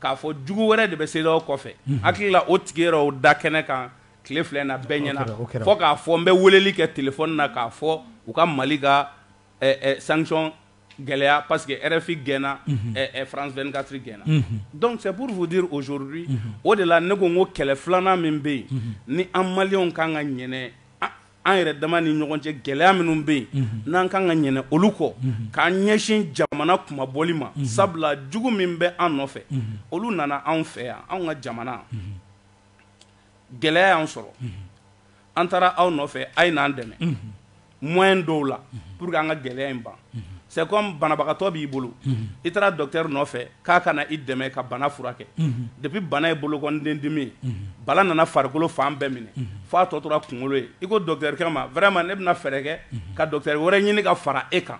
k'a fɔ jugu wɛrɛ de bɛ CEDEAO kɔfɛ hakili la o tigi yɛrɛ o da kɛnɛ kan tile fila in na bɛɛ ɲɛna fo k'a fɔ n bɛ weleli kɛ téléphone na k'a fɔ u ka mali ka sanction gɛlɛya parce que RFI gɛnna France vingt-quatre gɛnna donc c'est pour vous dire aujourd'hui o de la ne ko n ko kɛlɛ filanan min bɛ yen ni an maliyɛnw kan ka ɲinɛ an yɛrɛ dama ni ɲɔgɔn cɛ gɛlɛya minnu bɛ yen n'an kan ka ɲinɛ olu kɔ k'an ɲɛsin jamana kunmabɔli ma sabula jugu min bɛ an nɔfɛ olu nana anw fɛ yan anw ka jamana gɛlɛya y'an sɔrɔ an taara aw nɔfɛ a ye n'an dɛmɛ moyen dɔw la pour que an ka gɛlɛya in ban c'est comme banabagatɔ b'i bolo i taara docteur nɔfɛ k'a ka na i dɛmɛ ka bana furakɛ depuis bana ye bolokɔnden dimi ye bana nana farikolo fan bɛɛ minɛ f'a tɔ tora kunkolo ye i ko docteur kɛ ma vraiment ne bɛna fɛɛrɛ kɛ ka docteur wɛrɛ ɲini ka fara e kan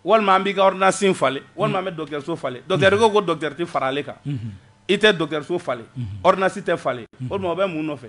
walima an b'i ka ordonnance falen walima an bɛ docteurso falen docteur ko ko docteur tɛ fara ale kan i tɛ docteurso falen ordonnance tɛ falen o tuma bɛ mun nɔfɛ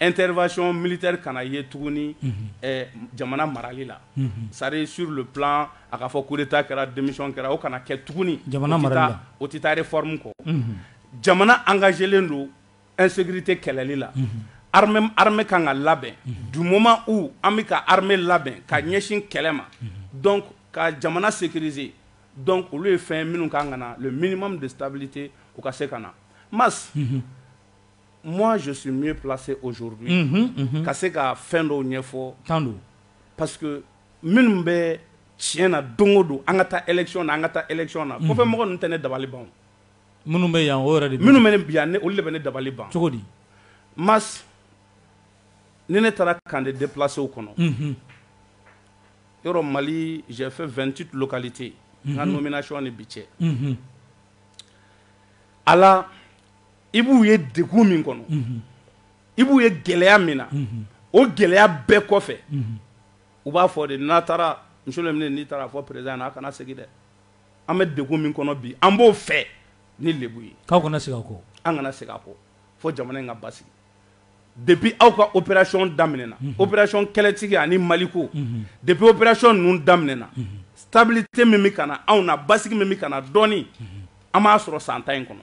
intervention militaire kana ye tuguni jamana marali la c'est-à-dire sur le plan a k'a fɔ coup d'État kɛra démission kɛra o kana kɛ tuguni jamana o tɛ taa réforme kɔ jamana engagélen don insécurité kɛlɛli la armée kan ka labɛn du moment où an bɛ ka armée labɛn ka ɲɛsin kɛlɛ ma donc ka jamana sécuriser donc olu ye fɛn minnu ka kan ka na le minimum de stabilité o ka se ka na ma Moi je suis mieux placé aujourd'hui unhun unhun ka se ka fɛn dɔw ɲɛfɔ tan don parce que minnu bɛ tiɲɛ na don o don an ka taa élection na an ka taa élection na kɔfɛ mɔgɔ ninnu tɛ ne dabali ban minnu bɛ yan o yɛrɛ de minnu bɛ ne bi yan olu de bɛ ne dabali ban cogo di mais ni ne taara camp de déplacéw kɔnɔ unhun yɔrɔ Mali j'ai fait 28 localités n ka nomination ni bi cɛ unhun a la i b'u ye degun min kɔnɔ i b'u ye gɛlɛya min na o gɛlɛya bɛɛ kɔfɛ u b'a fɔ de n'a taara monsieur le ministre n'i taara a fɔ président a kana segin dɛ an bɛ degun min kɔnɔ bi an b'o fɛ ni lebu ye aw kana segin a kɔ an kana segin a kɔ fɔ jamana in ka basigi depuis aw ka opération daminɛna opération kɛlɛtigi ani Maliko depuis opération ninnu daminɛna stabilité min bɛ ka na anw na basigi min bɛ ka na dɔɔnin an b'a sɔrɔ san tan in kɔnɔ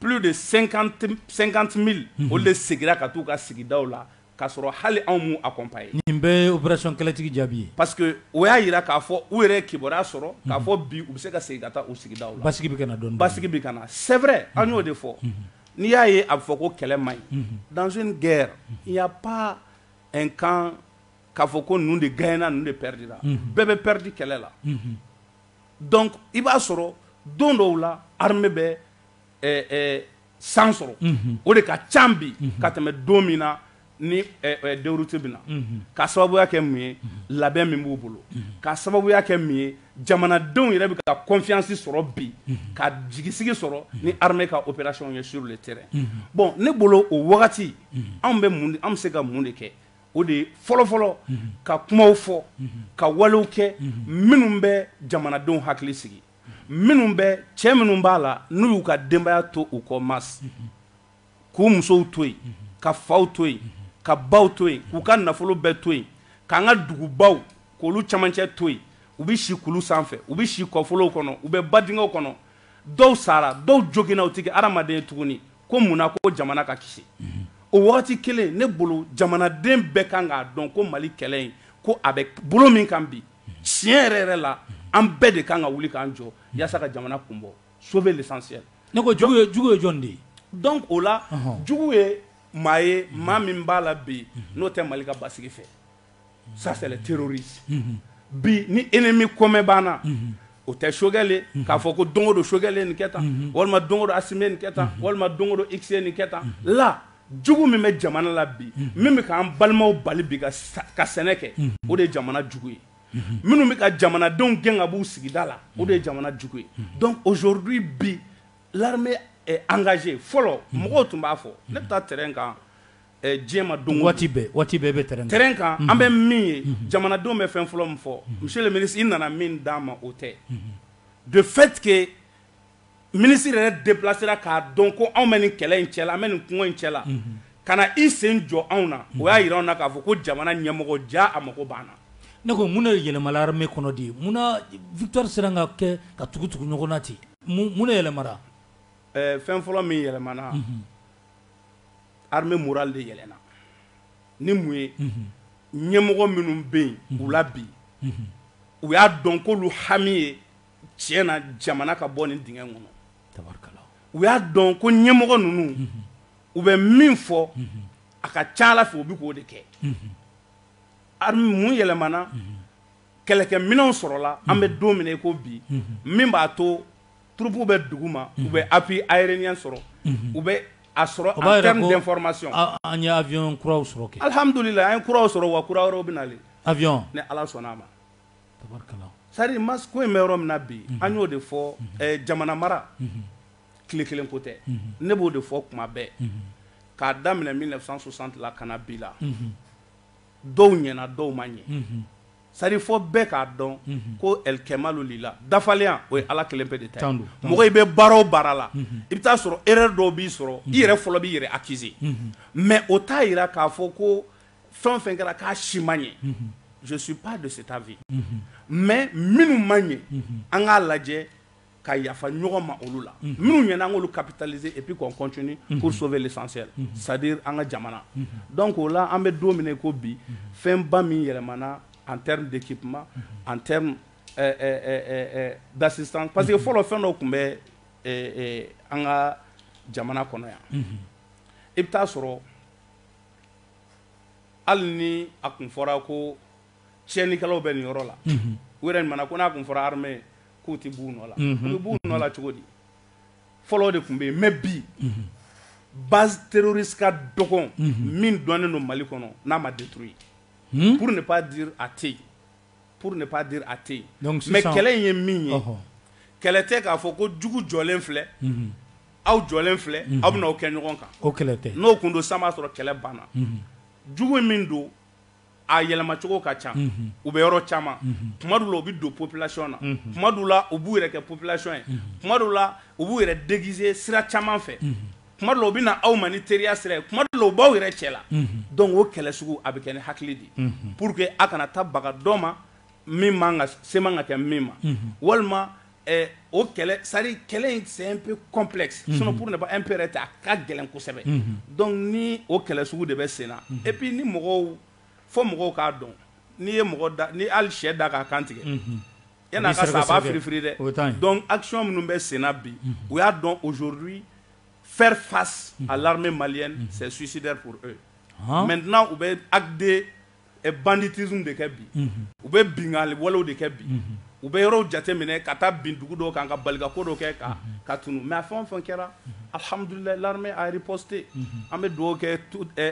plus de 50 mille olu de seginna ka t'u ka sigidaw la k'a sɔrɔ hali anw m'u accompagner nin bɛɛ ye opération kɛlɛtigi jaabi ye parce que o y'a jira k'a fɔ u yɛrɛ ye kibaruya sɔrɔ k'a fɔ bi u bɛ se ka segin ka taa u sigidaw la basigi bɛ ka na dɔɔnin-dɔɔnin basigi bɛ ka na c'est vrai an y'o de fɔ n'i y'a ye a bɛ fɔ ko kɛlɛ man ɲi dans une guerre il n'y a pas un camp k'a fɔ ko ninnu de gagnera ninnu de perdra bɛɛ bɛ perdre kɛlɛ la donc i b'a sɔrɔ don dɔw la armée bɛ san sɔrɔ o de ka ca bi ka tɛmɛ don min na ni déroute bɛ na k'a sababuya kɛ mun ye labɛn min b'u bolo k'a sababuya kɛ mun ye jamanadenw yɛrɛ bɛ ka confiance sɔrɔ bi ka jigisigi sɔrɔ ni armée ka opération ye sur le terrain bon ne bolo o wagati anw bɛ an bɛ se ka mun de kɛ o de ye fɔlɔfɔlɔ ka kumaw fɔ ka walew kɛ minnu bɛ jamanadenw hakili sigi minnu bɛ cɛ minnu b'a la n'u y'u ka denbaya to u kɔ ma k'u musow to yen ka faw to yen ka baw to yen k'u ka nafolo bɛɛ to yen k'an ka dugubaw k'olu camancɛ to yen u bɛ si kulu sanfɛ u bɛ si kɔfolow kɔnɔ u bɛ badingɛw kɔnɔ dɔw sara dɔw joginna u tɛ kɛ hadamaden ye tuguni ko mun na ko jamana ka kisi o wagati kelen ne bolo jamanaden bɛɛ kan k'a dɔn ko mali kɛlɛ in ko a bɛ bolo min kan bi tiɲɛ yɛrɛ yɛrɛ la an bɛɛ de kan ka wuli k'an jɔ yaasa ka jamana kun bɔ sauver l'essentiel ne ko jugu ye jɔn de ye donc o la jugu ye maa ye maa min b'a la bi n'o tɛ mali ka basigi fɛ ça c'est le terroriste bi ni ennemi commun b'an na o tɛ choguel ye k'a fɔ ko don o don choguel ye nin kɛ tan walima don o don assimi ye nin kɛ tan walima don o don x ye nin kɛ tan la jugu min bɛ jamana la bi min bɛ k'an balimaw bali bi ka sɛnɛ kɛ o de ye jamana jugu ye minnu bɛ ka jamanadenw gɛn ka b'u sigida la o de ye jamana jugu ye donc aujourd'hui bi l'armée est engagée fɔlɔ mɔgɔw tun b'a fɔ ne bɛ taa terrain kan diɲɛ ma don waati bɛɛ bɛ terrain kan an bɛ min ye jamanadenw bɛ fɛn fɔlɔ min fɔ monsieur le ministre i nana min d'an ma o tɛ de fait que ministre yɛrɛ déplacera k'a dɔn ko anw bɛ nin kɛlɛ in cɛ la an bɛ nin kungo in cɛ la ka na i sen jɔ anw na o y'a yira anw na k'a fɔ ko jamana ɲɛmɔgɔ ja a mago b'an na ne ko mun de yɛlɛmala armée kɔnɔ de munna victoire sera ka kɛ ka tugu tugu ɲɔgɔn na ten mun de yɛlɛmara fɛn fɔlɔ min yɛlɛmana armée moral de yɛlɛna ni mun ye ɲɛmɔgɔ minnu bɛ yen u la bi u y'a dɔn k'olu hami ye tiɲɛ na jamana ka bɔ nin dingɛ kɔnɔ, tabarikala, u y'a dɔn ko ɲɛmɔgɔ ninnu, unhun, u bɛ min fɔ, unhun, a ka ca a la fɛ u bɛ k'o de kɛ, unhun, armée mun yɛlɛmana, unhun, kɛlɛkɛminɛnw sɔrɔla, unhun, an bɛ don min na i ko bi, unhun, min b'a to troupe bɛ dugu ma, unhun, u bɛ appui aérien sɔrɔ, unhun, u bɛ a sɔrɔ en terme d'information, o b'a jira ko an ye avion kuraw sɔrɔ kɛ, alihamudulila an ye kuraw sɔrɔ wa kura wɛrɛw bɛ nalen, avion ni Ala sɔnn'a ma c'est à dire ma ko in bɛ yɔrɔ min na bi an y'o de fɔ jamana mara tile kelen ko tɛ ne b'o de fɔ kuma bɛɛ k'a daminɛ mille neuf cent soixante la ka na bi la dɔw ɲɛna dɔw ma ɲɛ c'est à dire fɔ bɛɛ k'a dɔn ko el kɛmalu lila dafalenya o ye ala kelen pe de ta don mɔgɔ i bɛ baara o baara la i bɛ taa sɔrɔ erreur dɔw b'i sɔrɔ i yɛrɛ fɔlɔ b'i yɛrɛ accuser mais o t'a yira k'a fɔ ko fɛn o fɛn kɛra k'a si ma ɲɛ je suis pas de cet avis mais minnu ma ɲɛ an k'a lajɛ ka yafa ɲɔgɔn ma olu la minnu ɲɛna an k'olu capitaliser et puis qu'on continue pour sauver l'essentiel c'est à dire an ka jamana donc o la an bɛ don min na i ko bi fɛnba min yɛlɛmana en terme d'équipement en terme euh, euh, euh, euh, d'assistance parce que fɔlɔ fɛn dɔw tun bɛ euh, euh, an ka jamana kɔnɔ yan i bɛ taa sɔrɔ hali ni a kun fɔra ko tiɲɛnikɛlaw bɛ nin yɔrɔ la u yɛrɛ ɲumanna ko n'a kun fɔra armée k'u tɛ b'u nɔ la u bɛ b'u nɔ la cogo di fɔlɔ de tun bɛ yen mais bi base terroriste ka dɔgɔn min dɔnnen don mali kɔnɔ n'a ma détruit pour ne pas dire a tɛ yen Pour ne pas dire a tɛ yen mais kɛlɛ in ye min ye kɛlɛ tɛ k'a fɔ ko jugu jɔlen filɛ aw jɔlen filɛ aw bɛna aw kɛ ɲɔgɔn kan o kɛlɛ tɛ n'o tun don san b'a sɔrɔ kɛlɛ banna jugu in min don a yɛlɛmacogo ka ca u bɛ yɔrɔ caman kuma dɔw la u bɛ don population na kuma dɔw la u b'u yɛrɛ kɛ population ye kuma dɔw la u b'u yɛrɛ déguiser sira caman fɛ kuma dɔw la u bɛ na aw ma ni teriya sira ye kuma dɔw la u b'aw yɛrɛ cɛ la donc o kɛlɛ sugu a bɛ kɛ ni hakili de ye pour que a kana taa baga dɔ ma min man ka se man ka kɛ min ma walima o kɛlɛ c'est-à-dire kɛlɛ in c'est un peu complexe sinon pour ne pas un peu yɛrɛ tɛ a ka gɛlɛn kosɛbɛ donc ni o kɛlɛ sugu de bɛ sen na et puis ni mɔgɔw fo mɔgɔw k'a dɔn n'i ye mɔgɔ da ni hali sɛ da k'a kantigɛ yan a ka firifi dɛ dɔn asiyɔn minnu bɛ senna bi o y'a dɔn ozuru fɛ fa a la mali sɛ susi dɛ mɛt u bɛ akiden banditi de kɛ bi u bɛ bingali wale de kɛ bi u bɛ yɔrɔ jate minɛ ka taa bin dugu dɔ kan ka bali ko dɔ kɛ kan ka tun mɛ a fɛn fɛn kɛra alihamdulila la ari pote an bɛ dugawu kɛ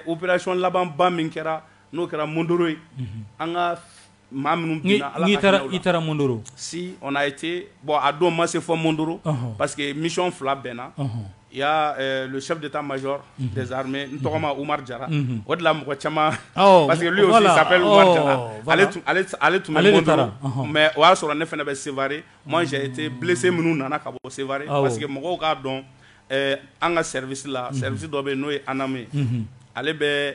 oererayɔn labanba min kɛra n'o kɛra mdo ye an ka Maa minnu binna Ala ka hinɛ u la. I taara Mondoro Si on a été bon a don n ma se fɔ Mondoro. Ɔnhɔn! Parce que mission 2 bɛnna. Ɔnhɔn! Il y a euh le chef d'état major des armées n tɔgɔma Umaru Jara. Unhun! O de la mɔgɔ caman. Awɔ! Parce que lui aussi il s'appelle Umaru Jara. Ɔɔ! Voilà! Ale tun ale t ale tun bɛ Mondoro. Ale de taara. Ɔnhɔn! Mais o y'a sɔrɔ ne fana bɛ Sevare. Moi j'ai été blessé minnu nana ka bɔ Sevare. Awɔ! Parce que mɔgɔw k'a dɔn ɛɛ an ka service la. Unhun! Service dɔ bɛ yen n'o ye ANAM ye. Unhun! Ale bɛ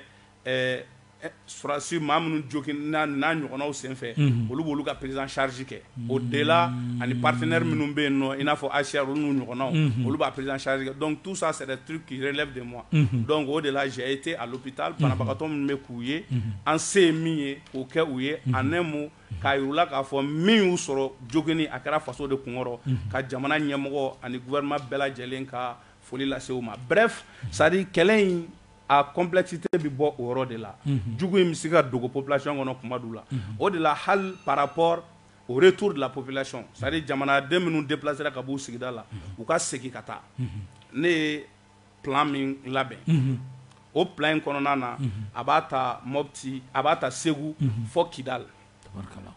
Susi maa minnu n'a ɲɔgɔnw senfɛ olu bolo ka perez sarisi kɛ o de la ani patiɛ minnu bɛ yen nɔ in n'a fɔ ayisiya n'u ɲɔgɔnw olu b'a perez sarisi dɔn tusa sera tu kiiriri de ma dɔn o de la zye e tɛ ali bi taa banabagatɔ min bɛ k'u ye an se ye min ye k'o kɛ u ye a nɛmu k'a u la k'a fɔ min y'u sɔrɔ jo kelen a kɛra faso de kunkɔrɔ ka jamana ɲɛmɔgɔ ani vma bɛɛ lajɛlen ka foli lase ma sari kɛlɛ in a complexité bɛ bɔ o yɔrɔ de la jugu in bɛ se ka dogo population kɔnɔ kuma dɔw la o de la hali par rapport au retour de la population c'est-à-dire jamanaden minnu déplacera ka b'u sigida la u ka segin ka taa ne ye plan min labɛn o plan in kɔnɔna na a b'a ta Mopti a b'a ta Segu fɔ Kidal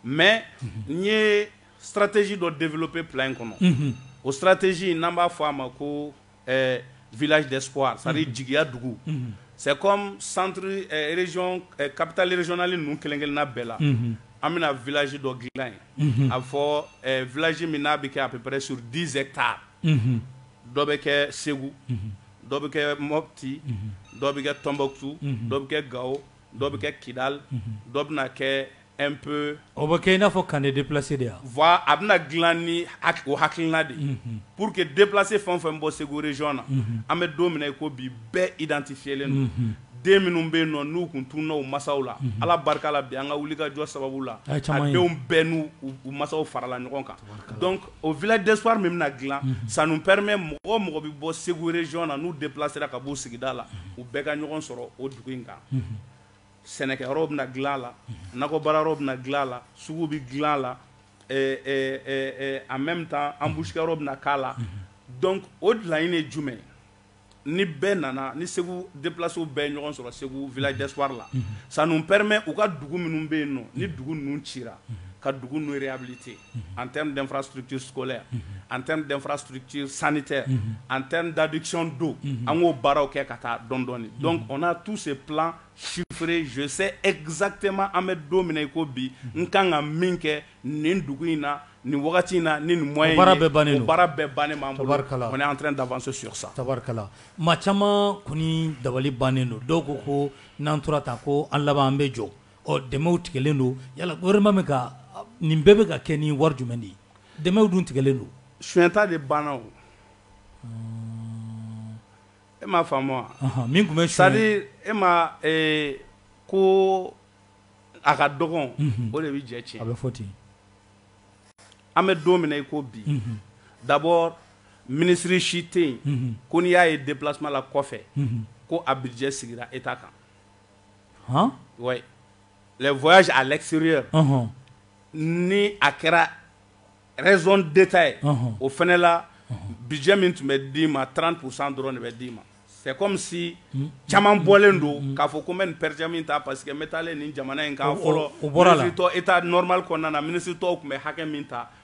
mais n ye stratégie dɔ développer plan in kɔnɔ o stratégie n'an b'a fɔ a ma ko ɛɛ village d'espoir c'est à dire jigiya dugu, unhun, c'est comme centre ɛɛ région ɛɛ capitale régionale ninnu kelen kelenna bɛɛ la, unhun, an bɛna village dɔ dilan yen, unhun, a bɛ fɔ ɛɛ village min n'a bɛ kɛ à peu près sur 10 hectares unhun, dɔ bɛ kɛ Segu, unhun, dɔ bɛ kɛ Mopti, unhun, dɔ bɛ kɛ Tombouctou, unhun, dɔ bɛ kɛ Gao, dɔ bɛ kɛ Kidal, unhun, dɔ bɛna kɛ un peu o bɛ kɛ i n'a fɔ camp de déplacés de ye wa? Voilà a bɛna dilan ni o hakilina de ye pour que déplacé fɛn o fɛn bɛ bɔ Segu région na an bɛ don min na i ko bi bɛɛ identifier len don den minnu bɛ yen nɔ n'u tun tununa u masaw la Ala barika la bi an ka wulikajɔ sababu la a denw bɛɛ n'u masaw farala ɲɔgɔn kan donc o village d'espoir min bɛna dilan ça nous permet mɔgɔ o mɔgɔ bɛ bɔ Segu région na n'u déplacer ra ka b'u sigida la u bɛɛ ka ɲɔgɔn sɔrɔ o dugu in kan. sɛnɛkɛ yɔrɔw bɛna dilan a la nakɔbaara yɔrɔw bɛna dilan a la sugu bɛ dilan a la en même temps embouche kɛ yɔrɔ bɛna k'a la donc o laɲini ye jumɛn ye ni bɛɛ nana ni Segu déplacés bɛɛ ye ɲɔgɔn sɔrɔ Segu village d'espoir la ça nous permet u ka dugu minnu bɛ yen nɔ ni dugu ninnu cira ka dugu ninnu réhabiliter an tɛ denfa suruti solɛ an tɛ denfa suruti sanu tɛ an tɛ dadikicon don an k'o baaraw kɛ ka taa dɔndɔɔni dɔn o na tu se sufere zosɛ ezsatɛma an bɛ don min i ko bi n ka kan ka min kɛ nin dugu in na nin wagati in na ni nin mɔn baara bɛ ban baara bɛɛ bannen an tɛ daso su sa tarikala ma caman kɔni dabali bannen don dɔw ko ko n'an tora ta ko an laban an bɛ jɔ Ɔ dɛmɛw tigɛlen don yala gouvernement bɛ ka nin bɛɛ bɛ ka kɛ ni wari jumɛn de ye? Dɛmɛw dun tigɛlen don. Sonyata de banna o. E m'a faamu wa? Ɔnhɔn, min tun bɛ sonya. C'est à dire e ma ee ko a ka dɔgɔn. Unhun. O de bɛ jɛ tiɲɛ. A bɛ fɔ ten. An bɛ don min na i ko bi. Unhun. D'abord ministre si tɛ yen. Unhun. Ko n'i y'a ye déplacement la kɔfɛ. Unhun. Ko a budget sigira État kan. les voyages à l'extérieur ni a kɛra raison d'État ye o fana la budget min tun bɛ d'i ma trente pour cent dɔrɔn de bɛ d'i ma c'est comme si caman bɔlen don k'a fɔ ko n bɛ nin per diem min ta parce que n bɛ taalen nin jamana in kan fɔlɔ o bɔratɔ état normal kɔnɔna na ministre tɔw tun bɛ hakɛ min ta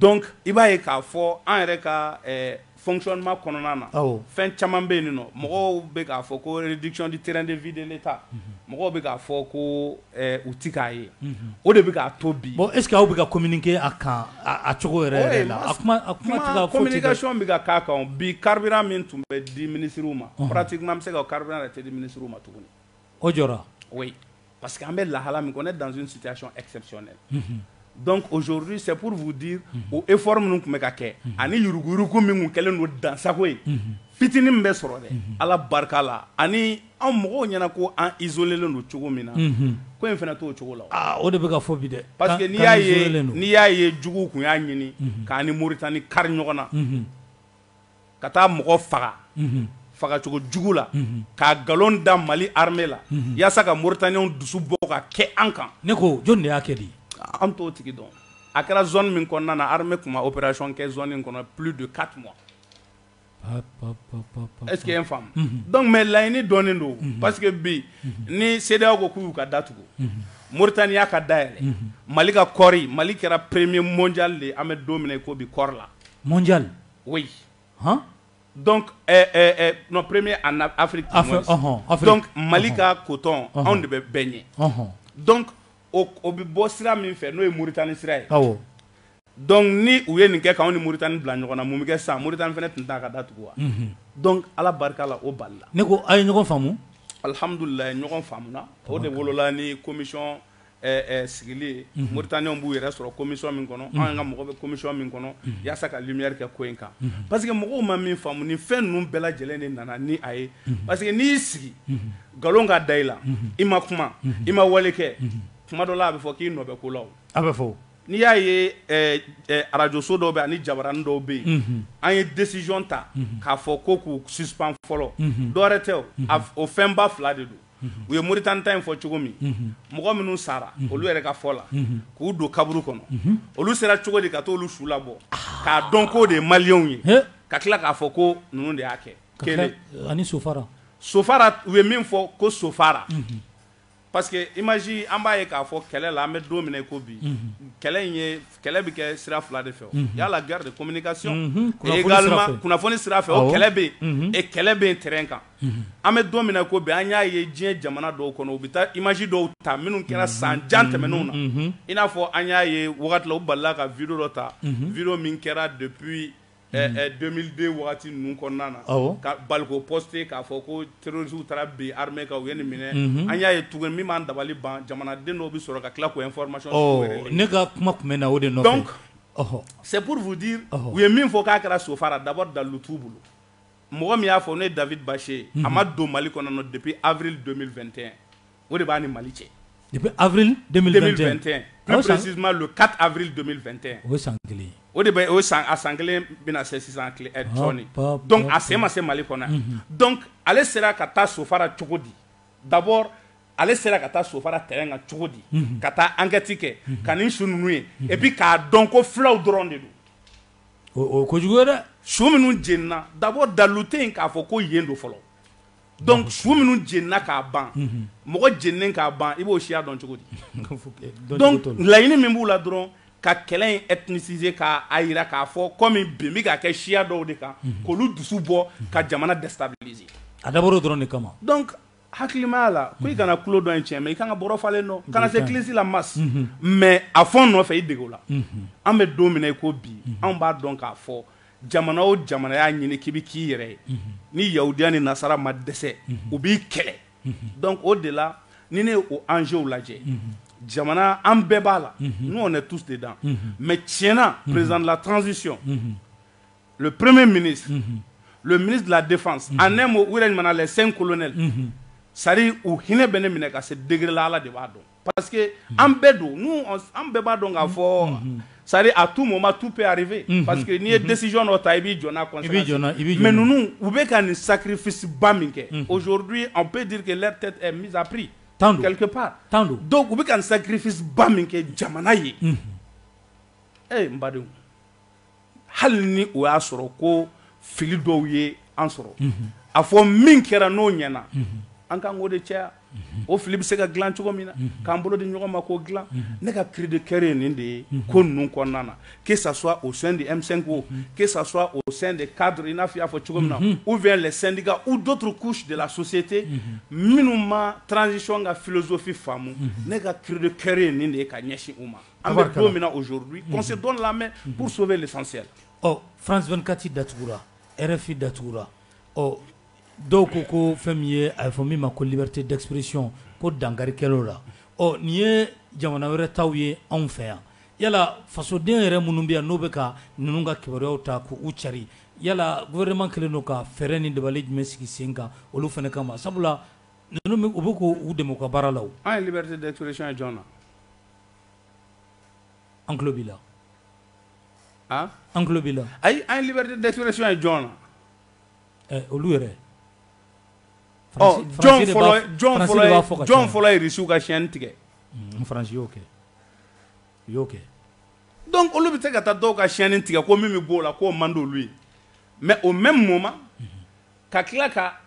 donc i b'a ye k'a fɔ an yɛrɛ ka fonctionnement kɔnɔna na fɛn caman bɛ yen nɔ mɔgɔw bɛ k'a fɔ ko réduction du train de vie de l'État mɔgɔw bɛ k'a fɔ ko u tɛ k'a ye o de bɛ k'a to bi bon est-ce que aw bɛ ka communiquer a kan a cogo yɛrɛ la communication bɛ ka k'a kan bi carburant min tun bɛ di minisiriw ma pratiquement an bɛ se ka carburant yɛrɛ tɛ di minisiriw ma tuguni o jɔra oui parce que an bɛ lahala min kɔnɔ on est dans une situation exceptionnelle donc aujourd'hui c'est pour vous dire o effort minnu tun bɛ ka kɛ ani yuruguyurugu min tun kɛlen don dansago ye fitinin min bɛ sɔrɔ dɛ ala barika la ani an mɔgɔw ɲɛna ko an isoler len don cogo min na ko in fana to o cogo la o de bɛ ka fɔ bi dɛ parce que n'i y'a ye jugu tun y'a ɲini k'an ni Moritani kari ɲɔgɔn na ka taa mɔgɔ faga fagacogo jugu la k'a nkalon da mali armée la yaasa ka mauritaniens dusu bɔ ka kɛ an kan ne ko jɔn de y'a kɛ di an t'o tigi dɔn a kɛra zone min kɔnɔna na armée tun ma opération kɛ zone in kɔnɔ plus de 4 mois est-ce que i ye n faamu donc mais laɲini dɔnnen don parce que bi ni cedeao ko k'u y'u ka da tugu mauritanie y'a ka da yɛlɛ mali ka kɔɔri mali kɛra premier mondial de an bɛ don min na i ko bi kɔɔri la mondial oui hein donc non premier en afrique donc mali ka coton anw de bɛ bɛɛ ɲɛ donc o bɛ bɔ sira min fɛ n'o ye mauritanie sira ye donc ni u ye nin kɛ k'anw ni mauritanie bila ɲɔgɔn na mun bɛ kɛ sa mauritanie fana tun t'a ka da tugu wa donc ala barika la o balila ne ko a ye ɲɔgɔn faamu alihamdulilayi ɲɔgɔn faamuna o de wolola ni commission sigili ye mauritaniens b'u yɛrɛ sɔrɔ commission min kɔnɔ an ka mɔgɔ bɛ commission min kɔnɔ yaasa ka lumière kɛ ko in kan parce que mɔgɔw ma min faamu ni fɛn ninnu bɛɛ lajɛlen de nana ni a ye parce que n'i y'i sigi nkalon ka da i la i ma kuma i ma wale kɛ kuma dɔ la a bɛ fɔ k'i nɔ bɛ ko la a bɛ fɔ n'i y'a ye arajoso dɔw bɛ ani jabaranin dɔw bɛ yen an ye décision ta k'a fɔ ko k'u suspend fɔlɔ dɔwɛrɛ tɛ o fɛnba fila de don u ye mauritanie ta in fɔ cogo min mɔgɔ minnu sara olu yɛrɛ ka fɔ la k'u don kaburu kɔnɔ olu sera cogo di ka taa olu su labɔ k'a dɔn k'o de ye maliyɛnw ye ka tila k'a fɔ ko ninnu de y'a kɛ kelen ani so sofara u ye min fɔ ko sofara parce que image an b'a ye k'a fɔ kɛlɛ la an bɛ don min na i ko bi kɛlɛ in ye kɛlɛ bɛ kɛ sira fila de fɛ y a la guerre de communication et également kunnafoni sira fɛ o kɛlɛ bɛ yen et kɛlɛ bɛ yen terrain kan an bɛ don min na i ko bi an y'a ye diɲɛ jamana dɔw kɔnɔ u bɛ taa image dɔw ta minnu kɛra san jan tɛmɛnenw na i n'a fɔ an y'a ye waati la u balila ka vidéo dɔ ta vidéo min kɛra depuis 2002 waati ninnu kɔnɔna na ka bali k'o poster k'a fɔ ko terroristew taara bin armée kan u ye nin minɛ an y'a ye tuguni min b'an dabali ban jamanaden dɔw bɛ sɔrɔ ka tila k'o information ne ka kuma tun bɛ na o de nɔfɛ donc c'est pour vous dire u ye min fɔ k'a kɛra sofara d'abord dalu t'u bolo Mɔgɔ min y'a fɔ ne ye David Baché ye a ma don Mali kɔnɔna na depuis avril 2021 o de b'a ni Mali cɛ depuis avril 2021 plus précisément le 4 avril 2021 o ye san 1 ye o de bɛ o san a san 1 bɛna se sisan kile ɛ sɔɔni donc a sen ma se Mali kɔnɔ yan donc ale sera ka taa Sofara cogo di d'abord ale sera ka taa Sofara terrain kan cogo di ka taa enquête kɛ ka nin su ninnu ye et puis k'a dɔn ko fulaw dɔrɔn de don o ko kojugu ye dɛ su minnu jenina d'abord dalu tɛ yen k'a fɔ ko yen don fɔlɔ donc su minnu jenina k'a ban mɔgɔ jeninen k'a ban i b'o siya dɔn cogo di donc laɲini min b'u la dɔrɔn ka kɛlɛ in ethniciser k'a yira k'a fɔ comme bin bɛ ka kɛ siya dɔw de kan k'olu dusu bɔ ka jamana déstabiliser a dabɔr'o dɔrɔn de kama hakilimaya la ko i kana tulo dɔn in tiɲɛ mais i ka kan ka bɔrɔ falen dɔn kana se kilisi la masse mais a fɔ n nɔfɛ i dege o la an bɛ don min na i ko bi an b'a dɔn k'a fɔ jamana o jamana y'a ɲini k'i bɛ k'i yɛrɛ ye ni yahudiya ni nasara ma dɛsɛ u b'i kɛlɛ donc o de la ni ne y'o enjeuw lajɛ jamana an bɛɛ b'a la nous on est tous dedans mais tiɲɛna président de la transition le premier ministre le ministre de la défense en un mot u yɛrɛ ɲuman na les cinq colonels c'est-à-dire u hinɛ bɛ ne minɛ ka se degré la Ala de b'a dɔn parce que an bɛɛ don nous an bɛɛ b'a dɔn k'a fɔ c'est-à-dire à tout moment tout peut arriver parce que n'i ye décision dɔ ta i b'i jɔ n'a conséquence ye mais ninnu u bɛ ka nin sacrifice ba min kɛ aujourd'hui on peut dire que leur tête est mise à prix tan don quelque part tan don donc u bɛ ka nin sacrifice ba min kɛ jamana ye ee n badenw hali ni o y'a sɔrɔ ko fili dɔw ye an sɔrɔ a fɔ min kɛra n'o ɲɛna an kan k'o de caya o fili bɛ se ka dilan cogo min na k'an bolo di ɲɔgɔn ma k'o dilan ne ka cri de cœur ye nin de ye ko ninnu kɔnɔna na que ça soit au sein de M5 o que ça soit au sein de cadre i n'a fɔ i y'a fɔ cogo min na ou bien les syndicats ou d'autres couches de la société minnu ma transition ka philosophie faamu ne ka cri de cœur ye nin de ye ka ɲɛsin u ma An bɛ don min na aujourd'hui qu'on se donne la main pour sauver l'essentiel ɔ France 24 datugura RFI datugura ɔ dɔw ko ko fɛn min ye a bɛ fɔ min ma ko liberté d'expression ko dankari kɛla o la ɔ nin ye jamana wɛrɛ taw ye anw fɛ yan yala fasoden yɛrɛ minnu bɛ yan n'o bɛ ka ninnu ka kibaruyaw ta k'u carin yala gouvernement kɛlen don ka fɛɛrɛ ni dabali jumɛn sigi sen kan olu fana kama sabula ninnu u bɛ k'u dɛmɛ u ka baara la o, an ye liberté d'expression ye jɔni na an tulo b'i la an an tulo b'i la ayi an ye liberté d'expression ye jɔn na eh, olu yɛrɛ oh, jɔn fɔlɔ jɔn fɔlɔ ye jɔn fɔlɔ ye risiw ka chaîne tigɛ mm, faransi y'o kɛ u y'o kɛ donc olu bɛ se ka taa dɔw ka chaîne tigɛ ko min bɛ b'o la k'o man d'olu ye mais au même moment mm-hmm. ka tila ka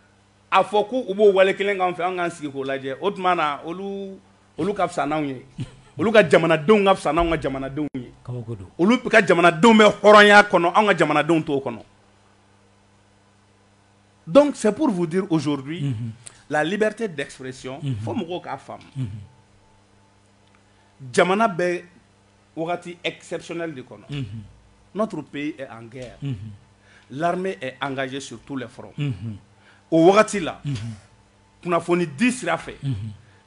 a fɔ ko u b'o wale kelen k'an fɛ an k'an sigi k'o lajɛ o tuma na olu olu ka fisa n'anw ye olu ka jamanadenw ka fisa n'anw ka jamanadenw ye kabako don olu ka jamanadenw bɛ hɔrɔnya kɔnɔ anw ka jamanadenw t'o kɔnɔ donc c'est pour vous dire aujourd'hui mhm. la liberté d'expression mhm. fo mɔgɔw k'a faamu mhm. jamana bɛ wagati exceptionnel de kɔnɔ notre pays est en guerre l'armée est engagée sur tous les fronts o wagati la kunnafoni di sira fɛ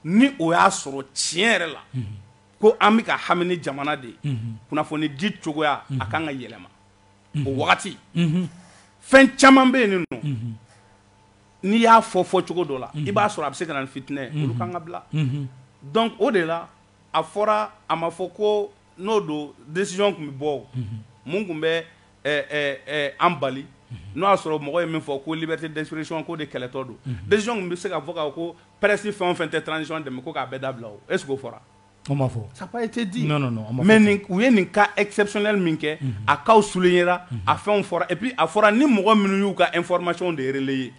ni o y'a sɔrɔ tiɲɛ yɛrɛ la ko an bɛ ka hami ni jamana de ye kunnafoni di cogoya a ka kan ka yɛlɛma o wagati fɛn caman bɛ yen nin n'i y'a fɔ fɔcogo dɔ la i b'a sɔrɔ a bɛ se ka na ni fitinɛ ye olu kan ka bila donc o de la a fɔra a ma fɔ ko n'o don desiy tun bɛ bɔ minnu tun bɛ an bali n'o y'a sɔrɔ mɔgɔ ye min fɔ ko bɛ tɛsiy ko de kɛlɛtɔ don desiy tun bɛ se ka fɔ ko pɛresi fɛn fɛn tɛ tcɔn dɛmɛ ko'a bɛɛ da bila o e fɔra ma fɔ sa e tɛ di mɛ u ye nin ka esɛpsɛ min kɛ a'aw sulon ye a fɛn fɔra epi a fɔra ni mɔgɔ minnu y'u ka efmac de ye ye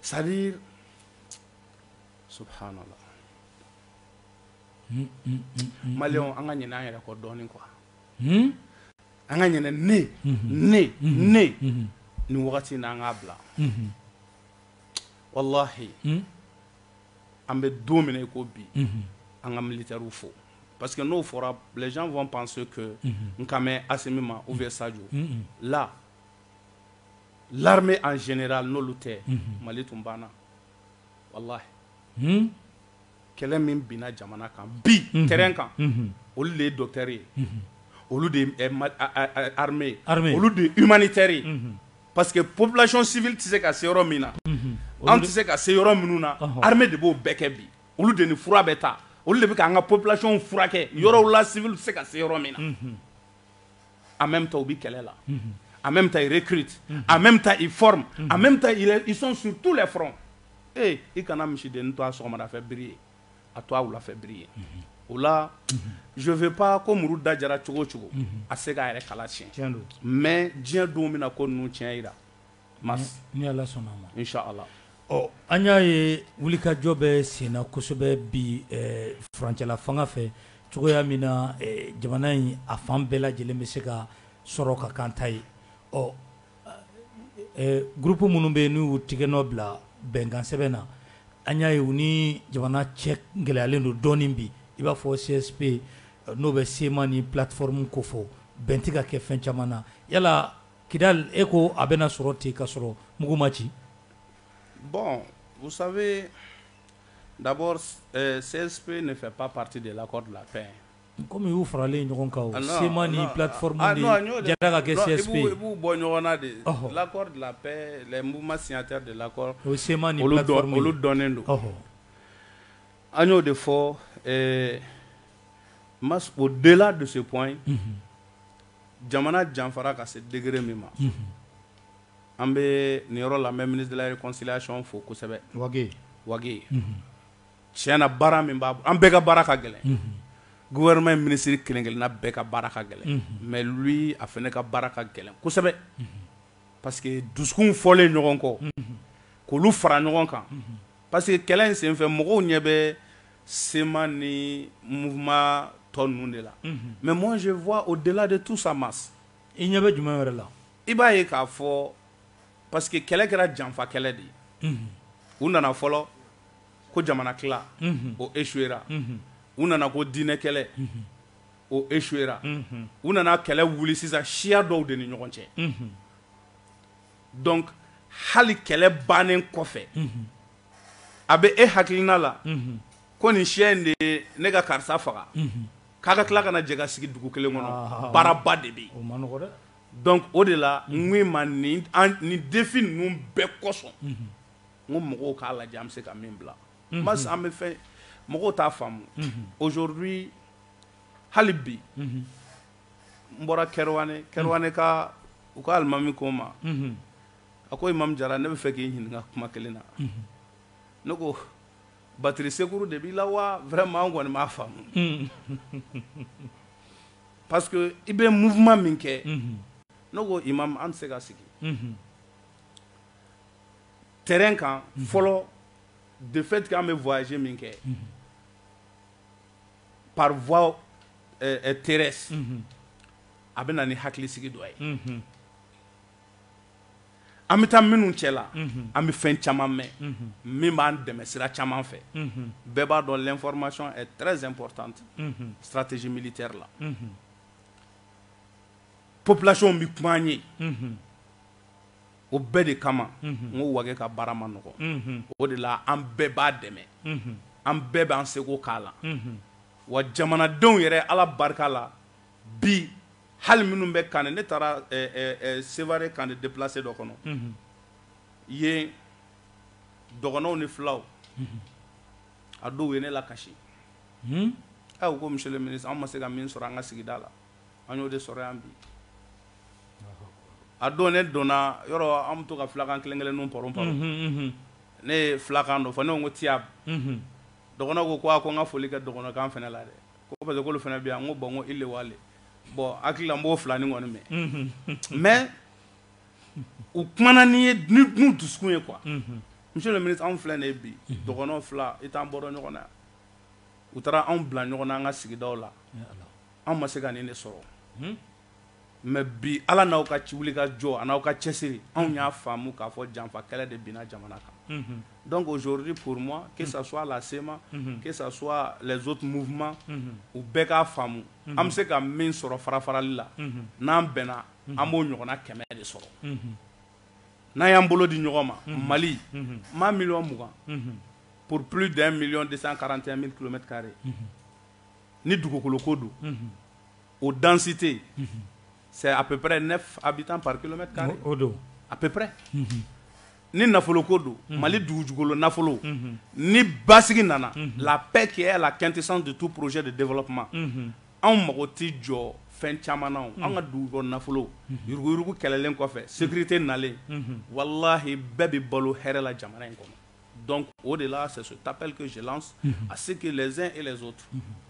Sali so mali an ka ɲ an yɛrɛ kɔ dɔɔnin kuwa an ka ɲ ne ne ne ni wagati n an k'a bila walahi an bɛ don minɛ i ko bi an ka mili taw fo parce que n'o fɔra bilaj fɔ panso n ka mɛ a min ma u bɛ saj la l'armée en général n'olu tɛ mali tun banna walahi kɛlɛ min binna jamana kan bi terrain kan olu de ye docteur ye olu de ye armée ye olu de ye humanitaire ye parce que population civile tɛ se ka se yɔrɔ min na anw tɛ se ka se yɔrɔ minnu na armée de b'o bɛɛ kɛ bi olu de ni fura bɛ taa olu de bɛ k'an ka population furakɛ yɔrɔ la civil tɛ se ka se yɔrɔ min na en même temps u bɛ kɛlɛ la en même temps ils recrutent en même temps ils forment en même temps ils sont sur tous les fronts ee i kana misidennin to a sɔgɔmadafɛ biri ye a to a wulafɛ biri ye o la je veux pas ko muru da diyara cogo o cogo a tɛ se k'a yɛrɛ kala siyɛn mais diɲɛ don bɛna ko ninnu tiɲɛ jira. mars ni Ala sɔnna a ma in sha Allah ɔ an y'a ye wulikajɔ bɛ senna kosɛbɛ bi furancɛla fanga fɛ cogoya min na jamana in a fan bɛɛ lajɛlen bɛ se ka sɔrɔ ka kɛ an ta ye ɔ groupe minnu bɛ yen n'u y'u tigɛnɔ bila bɛnkan sɛbɛn na an y'a ye u ni jamana cɛ gɛlɛyalen don dɔɔnin bi i b'a fɔ CSP n'o bɛ CMA ni plateforme kofɔ bɛn tɛ ka kɛ fɛn caman na yala Kidali e ko a bɛna sɔrɔ ten ka sɔrɔ mugu ma ci bon vous savez d'abord CSP ne fait pas partie de l'accord de la paix hein, komi u y'u faralen ɲɔgɔn kan o, CMA ni plateforme de jɛra ka kɛ CSP ye, i b'u bɔ ɲɔgɔn na de, ɔhɔ, l'accord de la paix les mouvements signataires de l'accord o ye CMA ni plateforme ye, olu dɔnnen don, ɔhɔ, an y'o de fɔ ɛɛ au delà de ce point, unhun jamana janfara ka se degré min ma an bɛ nin yɔrɔ la n bɛ ministre de la réconciliation fo kosɛbɛ Wage Wage tiɲɛ na baara min b'a an bɛɛ ka baara ka gɛlɛn gouvernement ye ministre kelen-kelenna bɛɛ ka baara ka gɛlɛn mais lui a fana ka baara ka gɛlɛn kosɛbɛ parce que dusukun fɔlen ɲɔgɔn kɔ k'olu fara ɲɔgɔn kan parce que kɛlɛ in senfɛ mɔgɔw ɲɛ bɛ CMA ni mouvement tɔ ninnu de la, unhun, mais moi je vois au delà de tout ça Mass, i ɲɛ bɛ jumɛn wɛrɛ la, i b'a ye k'a fɔ parce que kɛlɛ kɛra janfa kɛlɛ de ye, unhun, u nana fɔlɔ ko jamana tila, unhun, o échouera, unhun, u nana ko diinɛ kɛlɛ, unhun, o échouera, unhun, u nana kɛlɛ wuli sisan siya dɔw de ni ɲɔgɔn cɛ, unhun, donc hali kɛlɛ bannen kɔfɛ, unhun. a bɛ e hakilina la ko nin siya in de ye ne ka karisa faga ka ka tila ka na jɛ ka sigi dugu kelen kɔnɔ baaraba de bɛ yen donc o de la vraiment nin défi ninnu bɛɛ kosɔn n ko mɔgɔw k'a lajɛ an bɛ se ka min bila Mass an bɛ fɛ mɔgɔw t'a faamu aujourd'hui hali bi n bɔra Kɛrɛwane Kɛrɛwanekaw k'alimami ko n ma A ko Imam Jara ne bɛ fɛ k'i ɲininka kuma kelen na ne ko batterie secours de b'i la wa vraiment an kɔni m'a faamu parce que i bɛ mouvement min kɛ n ko Imam an tɛ se ka sigi terrain kan fɔlɔ de fait que an bɛ voyage min kɛ par voie terrestre a bɛ na ni hakili sigi dɔ ye an bɛ taa minnu cɛ la an bɛ fɛn caman mɛn min b'an dɛmɛ sira caman fɛ bɛɛ b'a dɔn l'information est très importante stratégie militaire la population bɛ kuma an ye o bɛɛ de kama n ko Wage ka baara man nɔgɔ o de la an bɛɛ b'a dɛmɛ an bɛɛ b'an seko k'a la wa jamanadenw yɛrɛ ala barika la bi hali minnu bɛ camp ne taara Sevare camp déplacés dɔ kɔnɔ yen dɔgɔnɔw ni fulaw a dɔw ye ne lakasi u ko monsieur le ministre an ma se ka min sɔrɔ an ka sigida la an y'o de sɔrɔ yan bi a don ne donna yɔrɔ an bɛ to ka fulakan kelen kelenninw pɔrɔn pɔrɔn ne ye fulakan dɔ fɔ ne ko tiyabu dɔgɔnɔw ko ko ko n ka foli kɛ dɔgɔnɔkan fana la dɛ Ko parce que olu fana bɛ yan n ko bon n ko ile wale bon hakili la n b'o filanin kɔni mɛn mais u kumana ne ye n'u dusukun ye quoi monsieur le ministre anw filɛ nin ye bi dɔgɔnɔ fula i t'an bɔra ɲɔgɔn na u taara anw bila ɲɔgɔn na an ka sigidaw la anw ma se ka nin de sɔrɔ Mɛ bi ala n'aw ka ci wuli ka jɔ n'aw ka cɛsiri anw y'a faamumu k'a fɔ janfa kɛlɛ de binna jamana kan dɔn ko zori pma kesa a la sema ke zotuuma u bɛɛ k'a faamu an bɛ se ka min sɔrɔ fara farali la n'an bɛnna an b'o ɲɔgɔnna kɛmɛ de sɔrɔ n'a y'an bolo di ɲɔgɔn ma mali ma mi mugan pple de mi de karante mi kulomɛtare ni dugukolo ko don o danste sɛ apre ne a bɛ taa pakima o don apre ni nafolo ko don mali dugujugukolo nafolo ni basigi nana la bɛɛ keyala la kɛte san de tu porozjɛ de denfɔ kuma anw mago tɛ jɔ fɛn caman an ka dugu nafolo yuruguyugu kɛlɛlen kɔfɛ segukite nalen walahi bɛɛ bɛ balo hɛrɛla jamana in kɔnɔ donc o de la c'est cet appel que je lance à ce que les uns et les autres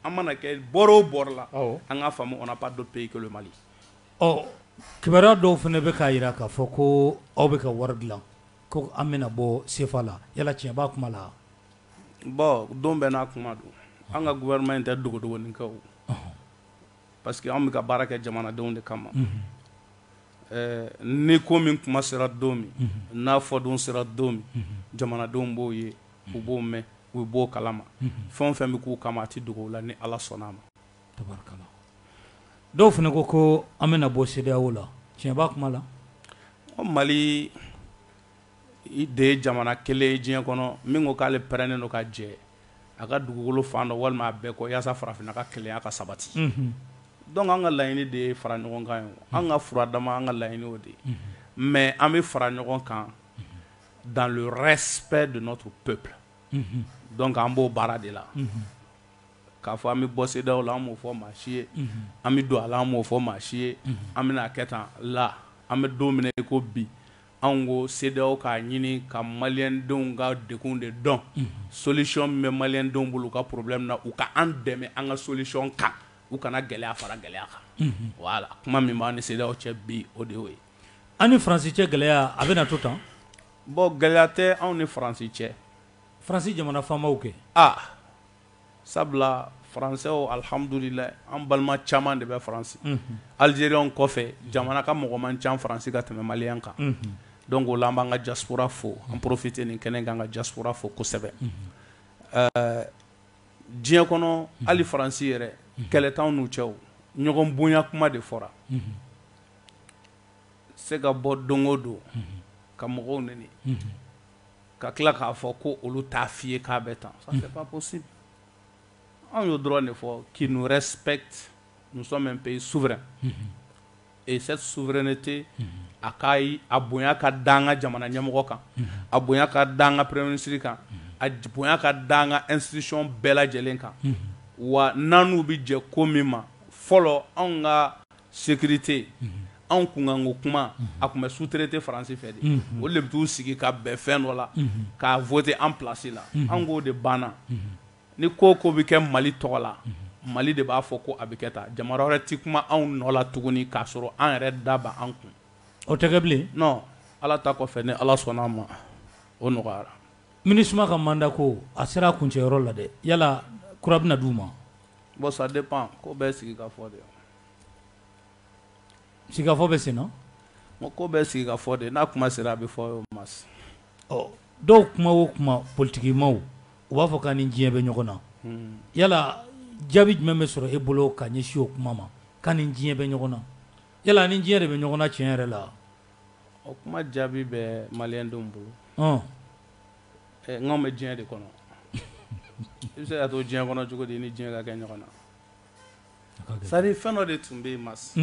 an mana kɛ bord o bord la, awɔ, an k'a faamu on n'a pas d'autre pays que le Mali ɔ kibaruya dɔw fana bɛ k'a jira k'a fɔ ko aw bɛ ka wari dilan ko an bɛna bɔ CFA la yala tiɲɛ b'a kuma la? bon don bɛɛ n'a kuma don, an ka gouvernement in tɛ dogodogonin kɛ o, ɔnhɔn Parce que anw bɛ ka baara kɛ jamanadenw de kama ni ko min kuma sera don min n'a fɔ don sera don min jamanadenw b'o ye u b'o mɛn u b'o kalama fɛn o fɛn bɛ k'u kama a tɛ dogo u la ni ala sɔnna a ma dɔw fana ko ko an bɛna bɔ CEDEAO la tiɲɛ b'a kuma la mali de ye jamana kelen ye diɲɛ kɔnɔ min ko k'ale pɛrɛlen don ka jɛn a ka dugukolo fan dɔ walima a bɛɛ kɔ yaasa farafinna ka kelenya ka sabati donc an ka laɲini de ye fara ɲɔgɔn kan ye an ka fura dama an ka laɲini o de ye mais an bɛ fara ɲɔgɔn kan dans le respect de notre peuple donc an b'o baara de la k'a fɔ an bɛ bɔ CEDEAO la an m'o fɔ maa si ye an bɛ don a la an m'o fɔ maa si ye an bɛna a kɛ tan la an bɛ don min na i ko bi Anw ko CEDEAO k'a ɲini ka maliyɛndenw ka degun de dɔn, unhun, solution min bɛ maliyɛndenw bolo u ka problème na, u ka an dɛmɛ an ka solution kan, u kana gɛlɛya fara gɛlɛya kan, unhun, voilà kuma min b'an ni CEDEAO cɛ bi o de y'o ye. An ni France cɛ gɛlɛya a bɛna to tan? Bon gɛlɛya tɛ anw ni France cɛ. France jamana faamaw kɛ? Aa! sabula faransɛw alihamdulilayi an balima caman de bɛ faransi alizeriyɛnw kɔfɛ jamana ka mɔgɔ man ca faransi ka tɛmɛ maliyɛn kan donc o la an b'an ka diaspora fo an profiter nin kɛnɛ kan ka diaspora fo kosɛbɛ diɲɛ kɔnɔ hali faransi yɛrɛ kɛlɛ t'an n'u cɛ ɲɔgɔn bonya kuma de fɔra se ka bɔ don o don ka mɔgɔw n ka tila k'a fɔ ko olu t'a f'i ye k'a bɛ tan ça c'est pas possible anw y'o dɔrɔn de fɔ qu'ils nous respectent nous sommes un pays souverain et cette souveraineté a ka a bonya ka da an ka jamana ɲɛmɔgɔ kan a bonya ka da an ka premier ministre kan a bonya ka da an ka institution bɛɛ lajɛlen kan wa n'an n'u bɛ jɛ ko min ma fɔlɔ anw ka Sécurité unhun anw kunkanko kuma unhun a tun bɛ sous-traité France fɛ de unhun olu de bɛ t'u sigi ka bɛn fɛn dɔ la unhun k'a voter an place la unhun anw k'o de banna unhun ni ko o ko bɛ kɛ Mali tɔgɔ la unhun Mali de b'a fɔ ko a bɛ kɛ tan jamana wɛrɛ tɛ kuma anw nɔ la tuguni k'a sɔrɔ an yɛrɛ da bɛ an kun o tɛ kɛ bilen non Ala ta kɔfɛ ni Ala sɔnn'a ma o nɔgɔyara Minusma ka mandat ko a sera a kuncɛyɔrɔ la dɛ yala kura bɛna d'u ma bon ça dépend ko bɛɛ sigikafɔ de don Sigikafɔ bɛ sen na ko bɛɛ sigikafɔ de n'a kuma sera a bɛ fɔ maa dɔw kuma o kuma politigimaw u b'a fɔ k'an ni diɲɛ bɛ ɲɔgɔn na yala jaabi jumɛn bɛ sɔrɔ e bolo ka ɲɛsin o kuma ma k'an ni diɲɛ bɛ ɲɔgɔn na yala ni diɲɛ de bɛ ɲɔgɔn na tiɲɛ yɛrɛ la o kuma jaabi bɛ maliyɛndenw bolo n'an bɛ diɲɛ de kɔnɔ i bɛ se ka to diɲɛ kɔnɔ cogo di ni diɲɛ ka kɛ ɲɔgɔn na C'est-à-dire fɛn dɔ de tun bɛ yen Mas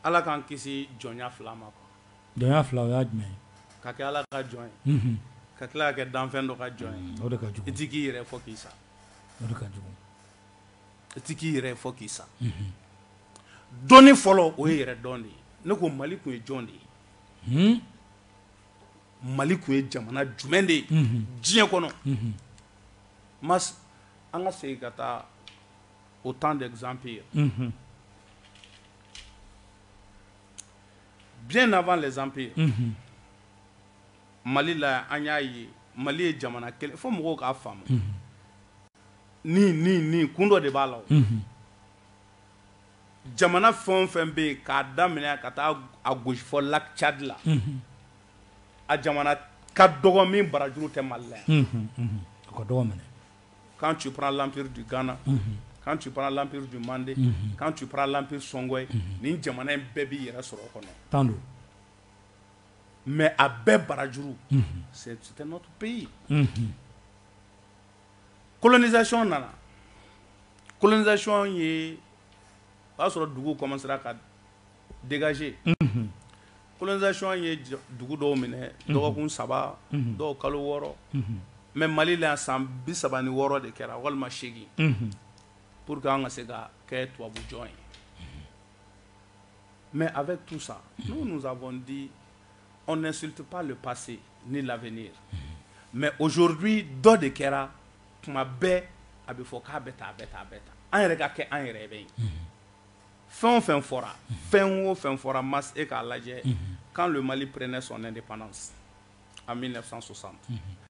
ala k'an kisi jɔnya fila ma jɔnya fila o y'a jumɛn ye ka kɛ ala ka jɔn ye ka tila ka kɛ danfɛn dɔ ka jɔn ye o de ka jugu i t'i k'i yɛrɛ fɔ k'i sa o ka jugu i t'i k'i yɛrɛ fɔ k'i sa dɔnni fɔlɔ o ye yɛrɛdɔn de ye ne ko mali tun ye jɔn de ye Mali tun ye jamana jumɛn de ye diɲɛ kɔnɔ Mas an ka segin ka taa au temps des empires bien avant les empires mali la an y'a ye mali ye jamana kelen fo mɔgɔw k'a faamu ni ni ni kun dɔ de b'a la jamana fɛn o fɛn bɛ yen k'a daminɛ ka taa a gosi fɔ lac Tchad la a jamana ka dɔgɔ min barajuru tɛ Mali la yan a ka dɔgɔ minɛ quand tu prends l'empire du Ghana quand tu prends l'empire du Mandé quand tu prends l'empire Songhoy nin jamana in bɛɛ b'i yɛrɛ sɔrɔ o kɔnɔ tan don mais a bɛɛ barajuru c'était notre pays colonisation nana colonisation ye o y'a sɔrɔ duguw commencera ka dégager unhun colonisation ye dugu dɔw minɛ dɔgɔkun saba dɔw kalo wɔɔrɔ mais Mali la yan san bi saba ni wɔɔrɔ de kɛra walima seegin unhun pour que an ka se ka kɛ tubabu jɔn ye mais avec tout ça nous nous avons dit n'insulte pas le passé ni l'avenir mais aujourd'hui dɔ de kɛra tuma bɛɛ a bɛ fɔ k'a bɛ tan a bɛ tan a bɛ tan an yɛrɛ ka kɛ an yɛrɛ bɛ yen fɛn o fɛn fɔra fɛn o fɛn fɔra mas e k'a lajɛ quand le Mali prenait son indépendance en 1960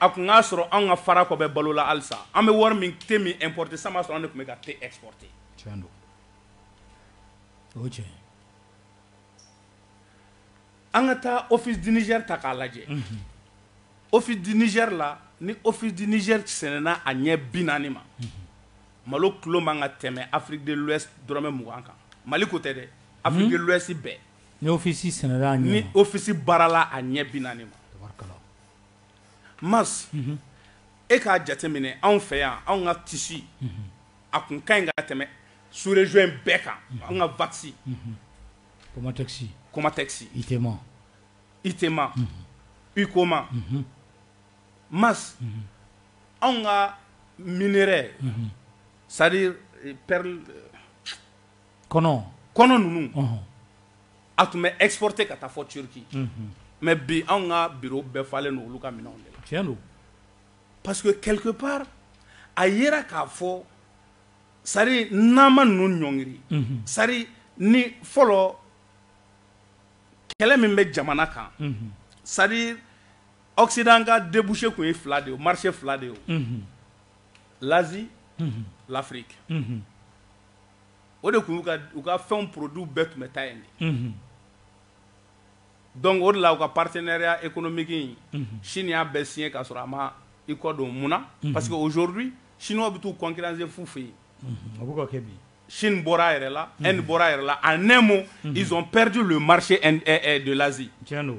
a tun k'a sɔrɔ an ka Farako bɛ balo la halisa an bɛ wari min thé min importer san b'a sɔrɔ an de tun bɛ ka thé exporter o tiɲɛ an ka taa Office du Niger ta k'a lajɛ Office du Niger la ni Office du Niger sɛnɛna a ɲɛ bi naani ma Malo kilo man ka tɛmɛ Afrique de l'ouest dɔrɔmɛ 20 kan. Mali ko tɛ dɛ Afrique de l'ouest bɛɛ. Ni office sɛnɛla a ɲɛ ma. Ni office baarala a ɲɛ 40 ma. Tabarikala. Mars Unhun. E k'a jateminɛ anw fɛ yan anw ka tissu Unhun. a tun ka ɲi ka tɛmɛ sous région in bɛɛ kan. Unhun. Anw ka waxi Unhun. Comatex. Comatex. Itema. Itema. Unhun. Ucoma. Unhun. mars anw ka minɛrɛ sari pɛri kɔnɔ kɔnɔ ninnu a tun bɛ eporo ten ka taa fɔ cki mɛ bi anw ka bi bɛɛ falenlen don olu ka minɛn de la tiɲɛ don pa que kɛlɛke pa a ye k'a fɔ sari n'ma ninnu ɲɔngri sari ni fɔlɔ kɛlɛ min bɛ jamana kan sari Occident ka débouché tun ye fila de ye, marché fila de ye, unhun, l'Asie, unhun, l'Afrique, unhun, o de tun y'u ka u ka fɛnw produits bɛɛ tun bɛ taa yen de, unhun, donc o de la u ka partenariat économique in, unhun, Chine y'a bɛɛ signé k'a sɔrɔ a ma i kɔ don, mun na? parce que aujourd'hui chinois bɛ t'u concurrencer f'u fɛ yen, unhun, a bɛ ka kɛ bi, Chine bɔra a yɛrɛ la, Inde bɔra a yɛrɛ la, en un mot, unhun, ils ont perdu le marché de l'Asie, tiɲɛ don.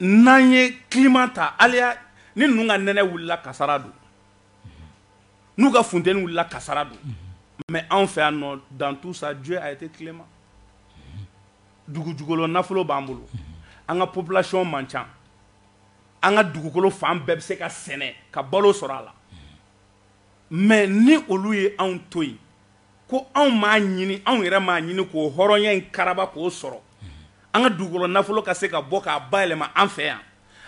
n'an ye climat ta hali yan ni ninnu ka nɛnɛ wulila kasara don n'u ka funteni wulila kasara don mais anw fɛ yan dans tout ça Dieu a été clément dugujukɔrɔ nafolo b'an bolo an ka population man ca an ka dugukolo fan bɛɛ bɛ se ka sɛnɛ ka balo sɔrɔ a la Mais ni olu ye anw to yen, ko anw m'a ɲini, anw yɛrɛ m'a ɲini k'o hɔrɔnya in karaba k'o sɔrɔ, an ka dugukolo nafolo ka se ka bɔ k'a bayɛlɛma an fɛ yan,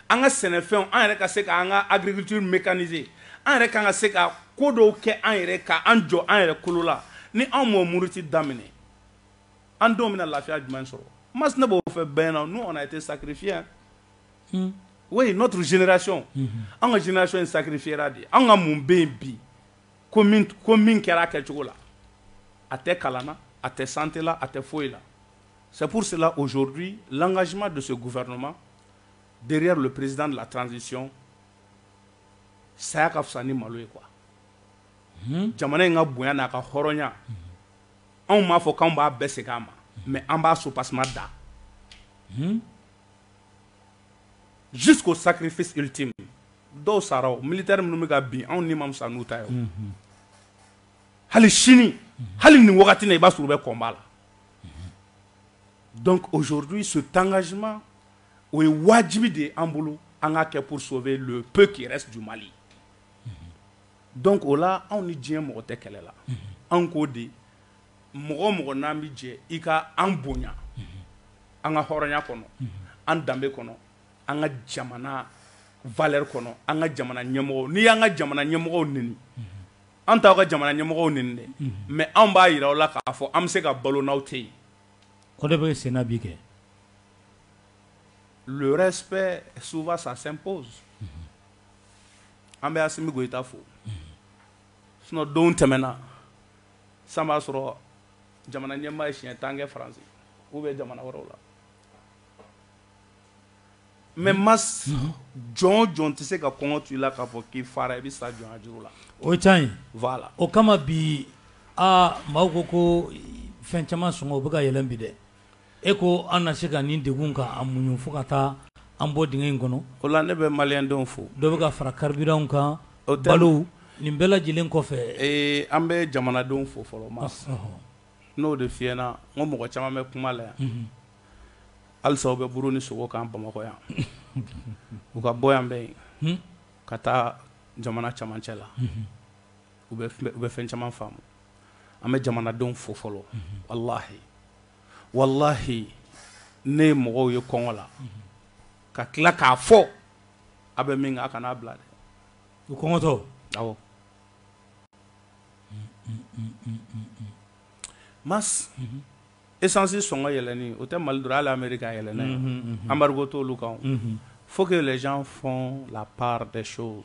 an ka sɛnɛfɛnw an yɛrɛ ka se k'an ka agriculture mécaniser an yɛrɛ ka kan ka se ka ko dɔw kɛ an yɛrɛ ye, ka an jɔ an yɛrɛ kolo la, ni anw m'o muruti daminɛ, an denw bɛna lafiya jumɛn sɔrɔ? Mas ne b'o fɔ bɛɛ ɲɛna, nous on a été sacrifiés o n'o tun jinɛracɔn an ka jinɛinacɔn in sari fi de an ka mun bɛ yen bi ko min kɛra a kɛ cogo la a tɛ kalan a tɛ sanla a tɛ foyi la sapurusila ozouru lakasima don se gufɛkoma bereere yɛrɛ don perezd la tranzsi saya ka fisa ni malo ye kuwa jamana in ka bonya n'a ka hɔrɔnya anw b'a fɔ anw b'a bɛɛ segin an ma mɛ an b'a so tasuma da jusqu'au sacrifice ultime dɔw sara o militaire minnu bɛ ka bin anw ni man fisa n'u ta ye mhm. hali sini mhm. hali nin wagati na i b'a sɔrɔ u bɛ combat la mhm. donc aujourd'hui ce engagement o ye wajibi de ye an bolo an k'a kɛ pour sauver le peu qui reste du Mali donc o la anw ni diɲɛ mɔgɔ tɛ kɛlɛ la anw k'o de mɔgɔ o mɔgɔ n'an bɛ jɛ i ka an bonya an ka hɔrɔnya kɔnɔ an danbe kɔnɔ an ka jamana valeur kɔnɔ an ka jamana ɲɛmɔgɔw n'i y'an ka jamana ɲɛmɔgɔw neni an t'aw ka jamana ɲɛmɔgɔw neni dɛ mais anw b'a jira aw la k'a fɔ an bɛ se ka balo n'aw tɛ yen o de bɛ sen na bi kɛ le respect souvent ça s'impose an bɛ Asimi Goyita fo sinon don tɛmɛna San b'a sɔrɔ jamana ɲɛmaa ye siɲɛ tan kɛ Faransi ou bien jamana wɛrɛw la mais Mas jɔn o jɔn tɛ se ka kɔngɔ to i la k'a fɔ k'i fara i bɛ sa jɔnya juru la, o ye tiɲɛ ye, voilà o kama bi aa maaw ko ko fɛn caman sɔngɔ o bɛ ka yɛlɛn bi dɛ E ko an na se ka nin degun ka an muɲun fo ka taa an bɔ dingɛ in kɔnɔ, o la ne bɛ maliyɛn denw fo, dɔ bɛ ka fara carburant kan, o tɛ, balo nin bɛɛ lajɛlen kɔfɛ, ee an bɛ jamanadenw fo fɔlɔ Mas, ɔhɔ, n y'o de f'i ɲɛna n ko mɔgɔ caman bɛ kuma la yan, unhun, halisa u bɛ buru ni sogo kan Bamakɔ yan, u ka bɔ yan bɛ yen ka taa jamana cɛmancɛ la, unhun. u bɛ fɛn caman faamu an bɛ jamanadenw fo fɔlɔ walahi walahi ne ye mɔgɔw ye kɔngɔ la ka tila k'a fɔ a bɛ min kɛ a kan'a bila dɛ u kɔngɔtɔ awɔ Mas esansi sɔngɔ yɛlɛnni o tɛ mali dɔrɔn hali Amérique a yɛlɛnna yen embargo t'olu kan faut que les gens font la part des choses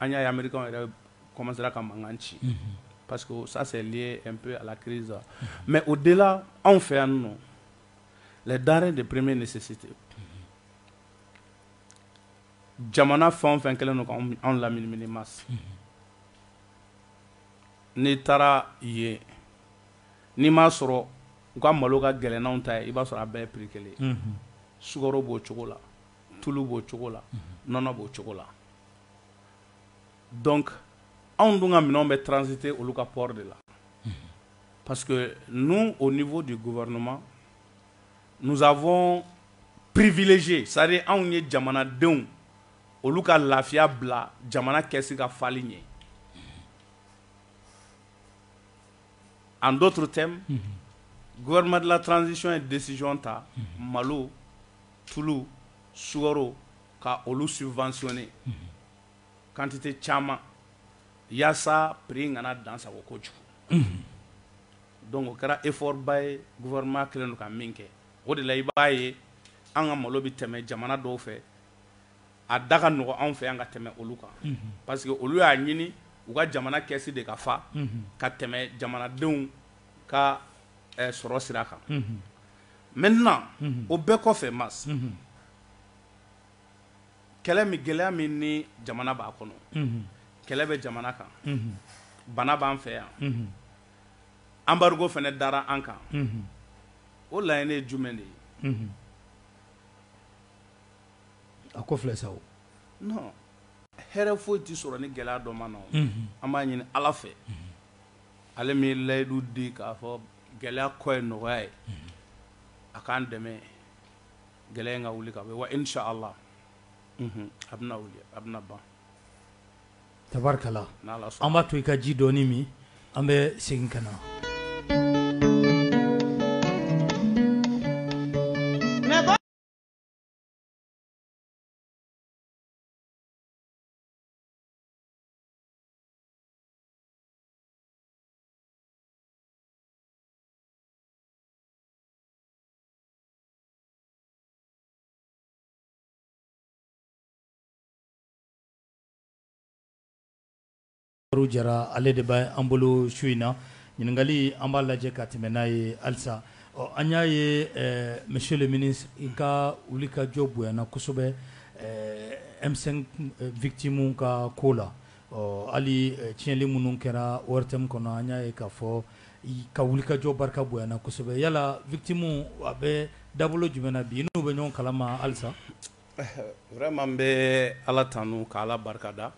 An y'a ye Américainw yɛrɛ commencera ka mankan ci. Unhun. Parce que ça c'est lié un peu à la crise mais au-delà anw fɛ yan nɔ les denrées de première nécessité jamana fɛn o fɛn kɛlen don k'anw laminimini Mas. Unhun. N'i taara yen, n'i m'a sɔrɔ u ka malo ka gɛlɛn n'anw ta ye, i b'a sɔrɔ a bɛɛ ye prix kelen ye. Unhun. Sukaro b'o cogo la, tulu b'o cogo la, nɔnɔ b'o cogo la. donc anw dun ka minɛnw bɛ transiter olu ka port de la, parce que nous au niveau du gouvernement nous avons privilégié c'est-à-dire anw ye jamanadenw olu ka lafiya bila jamana kɛsi ka fali ɲɛ en d'autres termes gouvernement de la transition ye décision ta malo tulu sukaro ka olu subventionner unhun, quantité caman yaasa prix kana dan sago kojugu, unhun, donc o kɛra effort ba ye gouvernement kɛlen don ka min kɛ o de la i b'a ye an ka malo bɛ tɛmɛ jamana dɔw fɛ a da ka nɔgɔ anw fɛ yan ka tɛmɛ olu kan, unhun, parce que olu y'a ɲini u ka jamana kɛsi de ka fa, unhun, ka tɛmɛ jamanadenw ka sɔrɔ sira kan, unhun, maintenant o bɛɛ kɔfɛ Mas, unhun. kɛlɛ min gɛlɛya min ni jamana b'a kɔnɔ kɛlɛ bɛ jamana kan bana b'an fɛ yan embargo fɛnɛ dara an kan o laɲini ye jumɛn de ye a ko filɛ sa o non hɛrɛ foyi tɛ sɔrɔ ni gɛlɛya dɔ ma na o an b'a ɲini ala fɛ ale min ye layidu di k'a fɔ gɛlɛya kɔ ye nɔgɔya ye a k'an dɛmɛ Gɛlɛya in ka wuli ka bɔ yen wa inch'Allah unhun a bɛna wuli a bɛna ban tabarikala n'Ala sɔnna an b'a to i ka ji dɔɔni min an bɛ segin ka na Baru Jara ale de bɛ an bolo su in na ɲininkali an b'a lajɛ ka tɛmɛ n'a ye halisa ɔ an y'a ye monsieur le ministre i ka wuli ka jɔ bonyana kosɛbɛ M5 victimes ka ko la ɔ hali tiɲɛni minnu kɛra ORTM kɔnɔ an y'a ye k'a fɔ ka wuli ka jɔ barika bonyana kosɛbɛ yala victimes a bɛ dabolo jumɛn na bi i n'u bɛ ɲɔgɔn kalama halisa vraiment n bɛ ala tanu ka ala barikada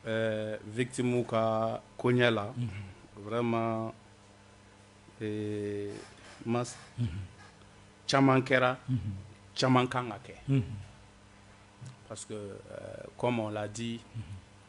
ɛɛ victimes ka koɲɛ la vraiment ma caman kɛra caman kan ka kɛ parce que comme on l'a dit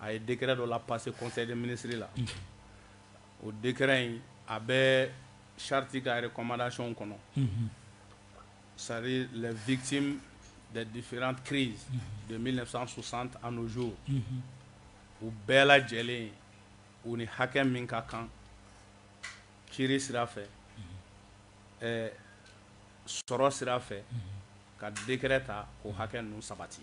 a ye décret dɔ la passer conseil des ministres la o décret in a bɛ charte ka recommandation kɔnɔ c'est à dire les victimes des différentes crises de 1960 à nos jours u bɛɛ lajɛlen u ni hakɛ min ka kan kiri sira fɛ sɔrɔ sira fɛ ka décret ta k'o hakɛ ninnu sabati.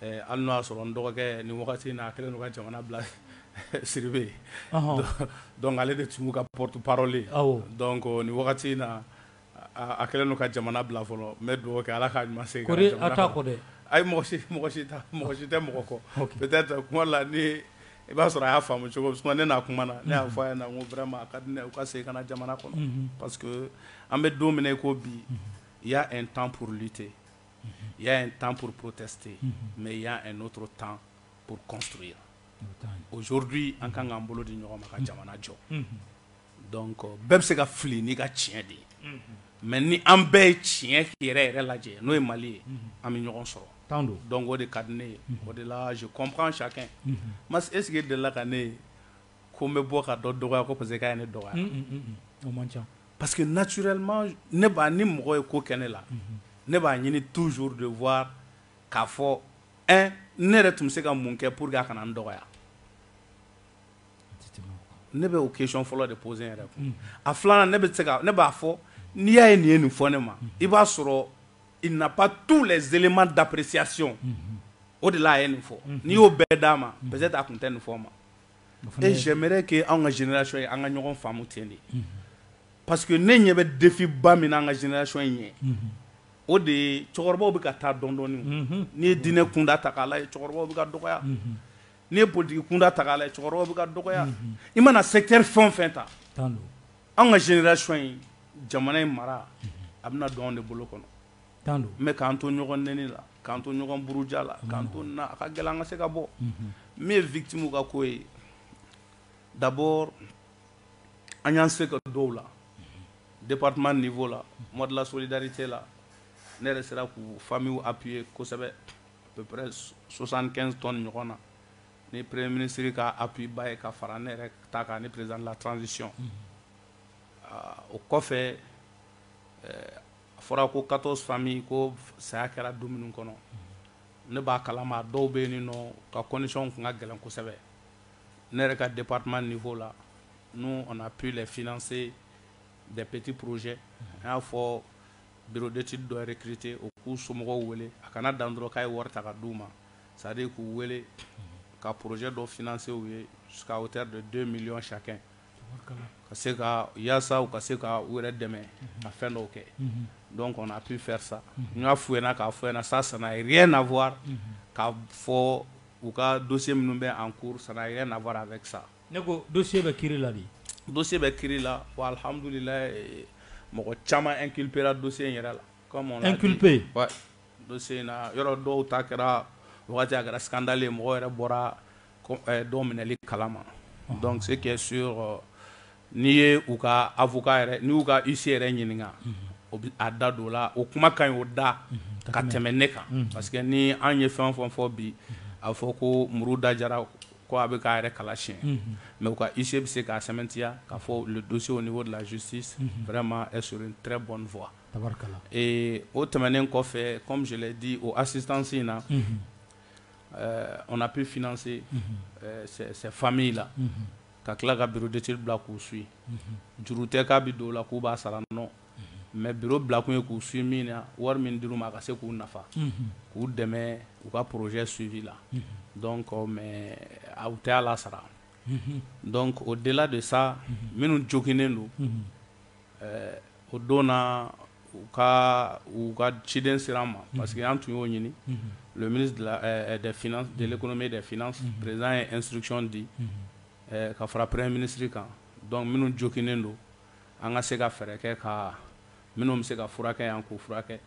Hali n'o y'a sɔrɔ n dɔgɔkɛ nin wagati in na a kɛlen don ka jamana bila Siribe ye donc ale de tun b'u ka porte-parole donc nin wagati in na a kɛlen don ka jamana bila fɔlɔ n bɛ dugawu kɛ ala k'a ɲuman segin ka na jamana kɔnɔ ayi mɔgɔ si mɔgɔ si mɔgɔ si tɛ mɔgɔ kɔ peut-être kuma la ni i b'a sɔrɔ a y'a faamu cogo min ne n'a kuma na ne y'a fɔ a ɲɛna n ko vraiment a ka di ne ye u ka segin ka na jamana kɔnɔ parce que an bɛ don min na i ko bi il y a un temps pour lutter y a un temps pour protester mais il y a un autre temps pour construire aujourd'hui an kan k'an bolo di ɲɔgɔn ma ka jamana jɔ donc bɛɛ bɛ se ka fili n'i ka tiɲɛ de ye mais ni an bɛɛ ye tiɲɛ yɛrɛ yɛrɛ lajɛ n'o ye Mali ye an bɛ ɲɔgɔn sɔrɔ tan donc o de ka di ne ye o de la je comprends chacun mais est-ce que e delila ka ne ye ko n bɛ bɔ ka dɔ dɔgɔya ko parce que k'a ye ne dɔgɔya, un un un, o man ca parce que naturellement ne b'a ni mɔgɔ ye ko kɛ ne la, unhun, ne b'a ɲini toujours de voir k'a fɔ un ne yɛrɛ tun bɛ se ka mun kɛ pour que a kana n dɔgɔya, ne bɛ o question fɔlɔ de poser n yɛrɛ kun, unhun, a filanan ne bɛ se ka ne b'a fɔ n'i y'a ye nin ye nin fɔ ne ma i b'a sɔrɔ il n'a pas tous les éléments d'appréciation o de la a ye nin fɔ, unhun, n'i y'o bɛɛ d'a ma peut-être a tun tɛ nin fɔ n ma et j'aimerais que an ka génération in an ka ɲɔgɔn faamu ten de parce que ne ɲɛ bɛ défi ba min na an ka génération in ɲɛ o de ye cɛkɔrɔbaw bɛ ka taa dɔɔni dɔɔni n'i ye diinɛ kunda ta k'a lajɛ cɛkɔrɔbaw bɛ ka dɔgɔya n'i ye politigi kunda ta k'a lajɛ cɛkɔrɔbaw bɛ ka dɔgɔya i mana secteur fɛn o fɛn ta an ka génération in jamana in mara a bɛna don anw de bolo kɔnɔ mais k'an to ɲɔgɔn nɛni la k'an to ɲɔgɔn buruja la k'an to na a ka gɛlɛn an ka se ka bɔ min ye victime ka ko ye d'abord an y'an se ka dɔw la département niveau la mois de la solidarité la ne yɛrɛ sera k'u famillew appuyer kosɛbɛ à peu près 75 tonnes ɲɔgɔn na ni premier ministre ka appui ba ye ka fara ne yɛrɛ ta kan ni président de la transition o kɔfɛ a fɔra ko 14 familles ko saya kɛra du minnu kɔnɔ, ne b'a kalama dɔw bɛ yen n'u ka conditions tun ka gɛlɛn kosɛbɛ, ne yɛrɛ ka département niveau la nous on a pu les financer des petits projets an y'a fɔ bureau d'étude dɔ recruter u k'u somɔgɔw wele a kana dan dɔrɔn k'a ye wari ta ka d'u ma c'est à dire k'u wele ka projet dɔ financer u ye jusqu'à hauteur de 2 millions chacun ka se ka yasa ka se ka wɛrɛ dɛmɛ ka fɛn dɔw kɛ dɔn kɔnɔ a bɛ fɛ sa n y'a fo ɲɛna k'a fɔ sa sana na fɔ ka fɔ u ka do minnu bɛ an ko san a na a bɛ sa ne ko do bɛ ki la do bɛ ki la alihamdulila mɔgɔ caman e kipra do in yɛrɛ la e kipe do in yɔrɔ dɔw ta kɛra a kɛra sandalen mɔgɔ yɛrɛ bɔra dɔw minɛli kala ma dɔn se kɛ su n'i ye u ka a fɔ n'u ka i se yɛrɛ ɲininka o bɛ a da don o la o kuma ka ɲi o da ka tɛmɛ ne kan parce que ni an ye fɛn fɔ fɔ bi a bɛ fɔ ko muru da jara ko a bɛ k'a yɛrɛ kala si mɛ u ka ise bɛ se k'a sɛmɛtiya ka fɔ donsow ni wari lajsi fɛrɛ ma s n tɛ bɔn fɔ o tɛmɛnen kɔfɛ kɔmi di o a sisansi in na Ɛɛ on a pu financer ces familles là ka tila ka bureau d'etude bila k'u suit juru tɛ k'a bɛ don o la k'u b'a sara non mais bureau bila kun ye k'u suit min na wari min dir'u ma a ka se k'u nafa k'u dɛmɛ u ka projet suivi la donc mais u tɛ hal'a sara donc au delà de ça minnu joginnen don ɛɛ o don na u ka u ka ciden sera an ma parce que an tun y'o ɲini le ministre des finances, de l'économie et des finances président ye instruction di ka fara premier ministre kan donc minnu joginnen don an ka se ka fɛɛrɛ kɛ ka minnu bɛ se ka furakɛ yan k'u furakɛ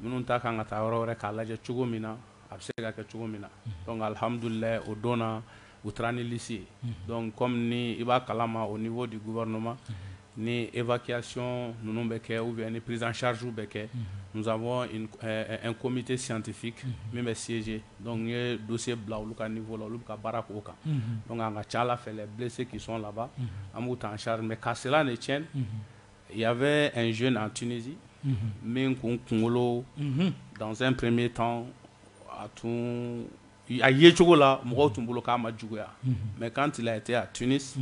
minnu ta kan ka taa yɔrɔ wɛrɛ k'a lajɛ cogo min na a bɛ se ka kɛ cogo min na donc alihamudulila o don na u taara ni lisi ye dɔn kɔmi ni i b'a kala ma o ni fɔ di guɛinma ni ekiyason ninnu bɛ kɛ u bɛ ni perezcariw bɛ kɛ muzɔnɔn n komi tɛ siyantifin min bɛ sinsin dɔnku ye do bila olu ka nin fɔ la olu ka baara ko kan dɔnku an ka ca ala fɛ bilisi se kisɔn laban an b'u taa an sari mɛ karisala ni cɛ ya bɛ n zo an tsin min kun kunkolo danpme tan a tun A ye cogo la mɔgɔw tun bolo k'a ma juguya mais quand il a été à Tunis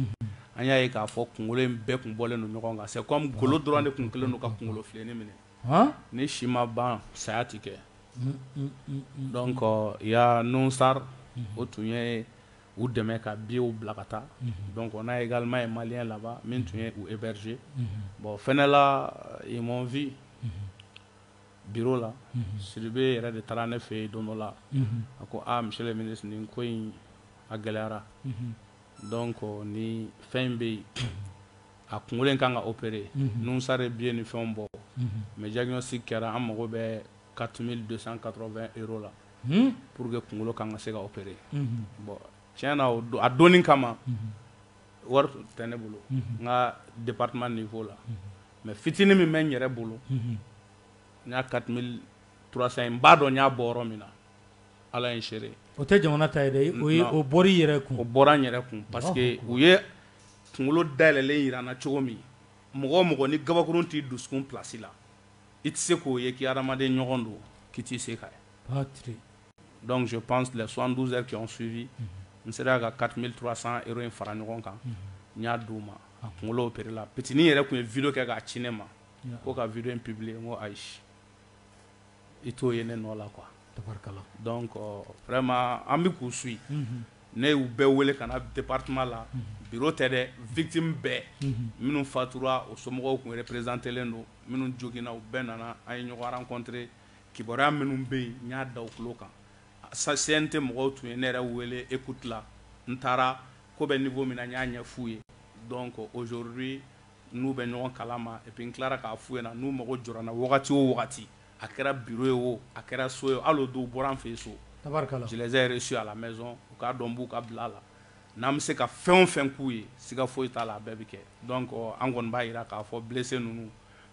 an y'a ye k'a fɔ kunkolo in bɛɛ tun bɔlen don ɲɔgɔn kan c'est comme golo dɔrɔn de tun kɛlen don ka kunkolo filennin minɛ ni si ma ban saya tɛ kɛ donc il y a Nusar o tun ye u dɛmɛ ka billets bila ka taa donc on a également un malien là-bas min tun ye u héberger bon fɛnkɛ la ils m'ont vu bi la siribe yɛrɛ de taara ne fɛ yen don dɔ la a ko mi nin ko in a gɛlɛyara dɔn kɔ ni fɛn in bɛ yen a kunkolokolo in ka kan ka opere ninnusare bi ye ni fɛn bɔ mɛ jasi kɛra an mago bɛ ka tun don san ka bɛ e la pur que kunkolo ka kan ka se ka opere bɔn tiɲɛ na don a don kama wari tɛ ne bolo n ka de nin fɔ la mais fitinin min bɛ n yɛrɛ bolo n y'a 4300 n b'a dɔn n y'a bɔ yɔrɔ min na ala ye n seere ye o tɛ jamana ta ye dɛ o bɔra i yɛrɛ kun o bɔra n yɛrɛ kun parce que u ye kunkolo dayɛlɛnlen jira n na cogo min mɔgɔ o mɔgɔ ni gabakurun t'i dusukun place la i tɛ se k'o ye k'i hadamaden ɲɔgɔn don k'i t'i se k'a ye Donc je pense les 72 heures qui ont suivi n sera ka 4300 euros in fara ɲɔgɔn kan n y'a d'u ma a kunkolo opéré la pitinin yɛrɛ tun ye video kɛ k'a ci ne ma ko ka video in publier n ko ayi i t'o ye ne nɔ la quoi donc euh, vraiment an bɛ k'u suit ne y'u bɛɛ wele ka na département la bureau tɛ dɛ victime bɛɛ minnu fatura o somɔgɔw tun représentelen don minnu joginna u bɛɛ nana an ye ɲɔgɔn rencontrer Kibaruya minnu bɛ yen n y'a da u tulo kan CNT mɔgɔw tun ye ne yɛrɛ wele écoute la n taara ko bɛ niveau min na n y'a ɲɛ f'u ye donc aujourd'hui n'u bɛ ɲɔgɔn kalama et puis n tilara k'a f'u ɲɛna n'u mago jɔra n na wagati o wagati a kɛra bureau ye o a kɛra so ye hali o don u bɔra n fɛ yen so je les ai reçus à la maison u k'a dɔn n b'u ka bila la n'an bɛ se ka fɛn o fɛn k'u ye siga foyi t'a la a bɛɛ bɛ kɛ donc an kɔni b'a jira k'a fɔ blessé ninnu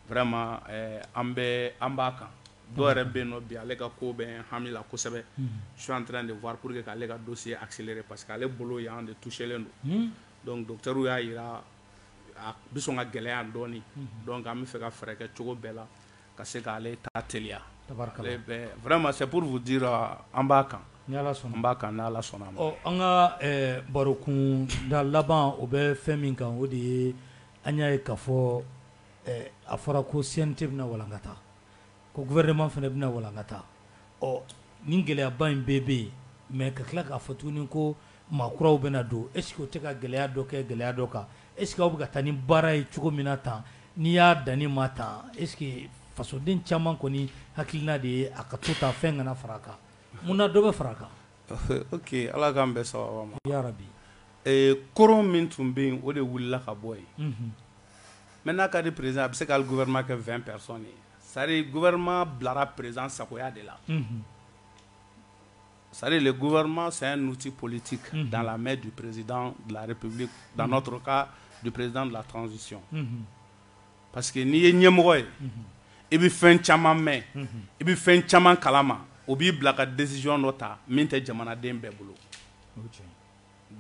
vraiment an bɛ an b'a kan dɔw yɛrɛ bɛ yen nɔ bi ale ka ko bɛ hami la kosɛbɛ je suis en train de voir pour que ka ale ka dossier accélérer parce que ale bolo yan de touchélen don donc docteur y'a jira a bɛ sɔn ka gɛlɛya dɔɔnin donc an bɛ fɛ ka fɛɛrɛ kɛ cogo bɛɛ la ka se ka ale ta teliya tabarikala vraiment c'est pour vous dire an b'a kan an b'a kan ni Ala sɔnna ɔ an ka barokun da laban o bɛ fɛn min kan o de ye an y'a ye k'a fɔ A fɔra ko CNT bɛna walankata ko gouvernement fana bɛna walankata ɔ nin gɛlɛyaba in bɛɛ bɛ yen mais ka tila k'a fɔ tuguni ko maa kuraw bɛna don est-ce que o tɛ ka gɛlɛya dɔ kɛ gɛlɛya dɔ kan est-ce que aw bɛ ka taa ni baara ye cogo min na tan n'i y'a dan nin ma tan est-ce que fasoden caman kɔni hakilina de ye a ka to tan fɛn kana fara a kan mun na dɔ bɛ fara a kan Ala k'an bɛɛ saba bi koron min tun bɛ yen o de wulila ka bɔ yen Mɛ n'a ka di perez a bɛ se k'ale guɛma kɛ fɛn pɛ ye sari guɛma bilara perez sagoya de la sari de guɛma saya niti politi ka da la mɛ du perezd lare pe dan dɔrɔn ka du perezd latransisi pa que n'i ye ɲɛmɔgɔ ye i bɛ fɛn caman mɛn i bɛ fɛn caman kala ma o b'i bila ka dɛsɛsiyɔn dɔ ta min tɛ jamanaden bɛɛ bolo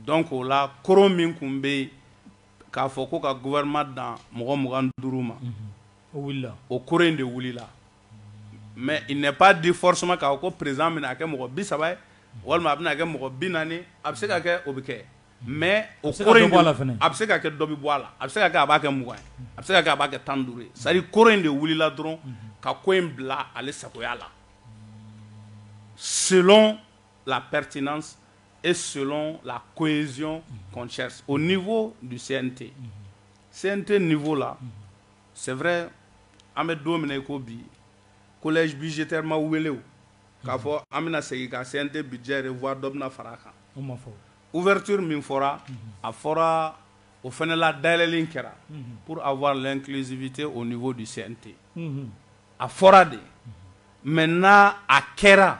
dɔn k'o la k min tun bɛ yen k'a fɔ ko ka gouvernement dan mɔgɔ 25 ma, unhun, o wulila, o koron in de wulila mais il n'est pas dit forcément k'a fɔ ko président bɛna a kɛ mɔgɔ 30 ye walima a bɛna kɛ mɔgɔ 40 a bɛ se ka kɛ o bɛ kɛ mais o koron in a bɛ se ka kɛ dɔ bɛ bɔ a la a bɛ se ka kɛ a b'a kɛ 20 ye a bɛ se ka kɛ a b'a kɛ 15 ye c'est à dire koron in de wulila dɔrɔn ka ko in bila ale sagoya la selon la pertinence et selon la cohésion qu'on cherche au niveau du CNT CNT niveau là c'est vrai an bɛ don min na i ko bi collège budgétaire ma wele o k'a fɔ an bɛna segin ka CNT budget revoir dɔ bɛna fara a kan o ma fɔ ouverture min fɔra a fɔra o fana la dayɛlɛlen kɛra pour avoir l'inclusivité au niveau du CNT a fɔra de maintenant a kɛra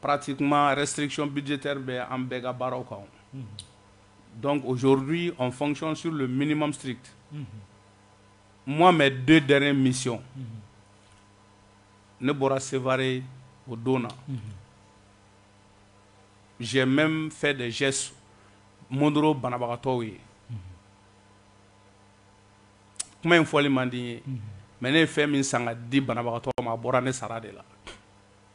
Pati kuma restriction bidite bɛ an bɛɛ ka baaraw kan dɔn ozouru an fɔcɔn sur don minimum siri mɔgɔ mɛ don diyara misi ne bɔra seri o don na zimɛ fɛ de z mɔnd banabagatɔ ye kuma in fɔli manden ye mɛ ne ye fɛn min san di banabagatɔ ma a bɔra ne sara de la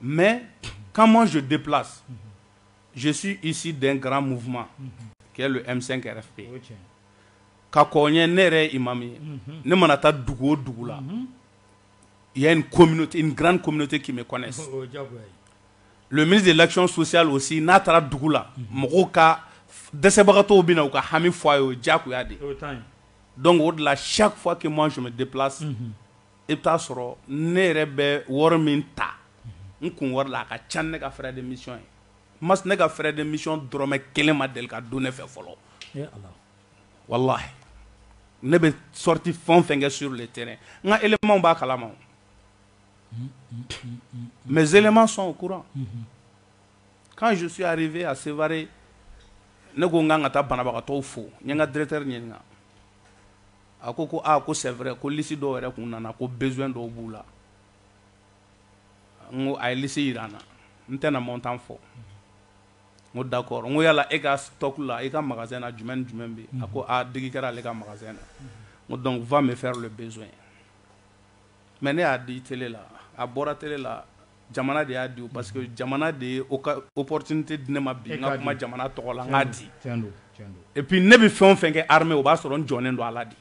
mais quand moi je déplace je suis issu d'un grand mouvement qui est le M5 RFP ka kɔn ɲɛ ne yɛrɛ ye imam ye ne mana taa dugu o dugu la il y a une communauté une grande communauté qui me connaisse le ministre de l'action sociale aussi n'a taara dugu la mɔgɔw ka dɛsɛbagatɔw bɛ na u ka hami fɔ a ye o ye jagoya de ye donc o de la chaque fois que moi je me déplace I bɛ taaa sɔrɔ ne yɛrɛ bɛ wari min ta n kun wari la a ka ca ne ka fɛ demi ye ma ne ka fɛ demi dɔrɔnmɛ kelen ma deli ka don ne fɛ fɔlɔ wala ne bɛ sɔti fɛn fɛn kɛ sur de tɛ n nka emaw b'a kalama mɛ zema sɔn o kura k'an susuyarife a sere ne ko n k'an ka taa banabagatɔ fo n ka dɛrɛte ɲini A ko ko aa ko c'est vrai ko lisi dɔw yɛrɛ tun nana ko besoin dɔw b'u la n ko a ye lisi jira an na n tɛna montant fɔ n ko d'accord n ko yala e ka stock la i ka magasin na jumɛn jumɛn bɛ a ko aa digi kɛra ale ka magasin na n ko donc va me faire le besoin mais ne y'a di télé la a bɔra télé la Jamana de y'a di parce que jamana de ye opportunité di ne ma bi n ka kuma jamana tɔgɔ la n k'a di et puis ne bɛ fɛn o fɛn kɛ armée o b'a sɔrɔ n jɔnen don a la de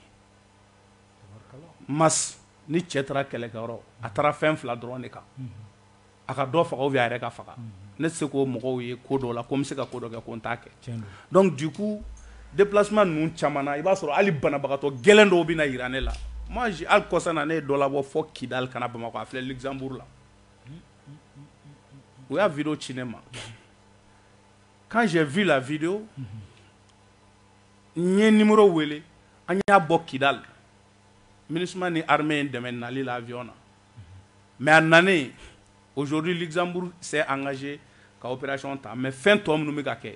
mas ni cɛ taara kɛlɛkɛyɔrɔ a taara fɛn fila dɔrɔn de kan a ka dɔ faga ou bien a yɛrɛ ka faga ne tɛ se k'o mɔgɔw ye ko dɔ la ko n bɛ se ka ko dɔ kɛ ko n t'a kɛ donc du coup Déplacement ninnu caman na, i b'a sɔrɔ hali banabagatɔ gɛlɛn dɔw bɛna jira ne la. Moi je hali kɔsa na ne ye dɔ labɔ fɔ Kidal ka na Bamakɔ a filɛ Luxembourg la. U y'a video ci ne ma. Quand j'ai vu la video n ye numéro wele an y'a bɔ Kidal. Minusma ni armée ye n dɛmɛ nali la avion na. Mais a nanen aujourd'hui Luxembourg s'est engagé ka opération ta mais fɛn tɔ minnu bɛ ka kɛ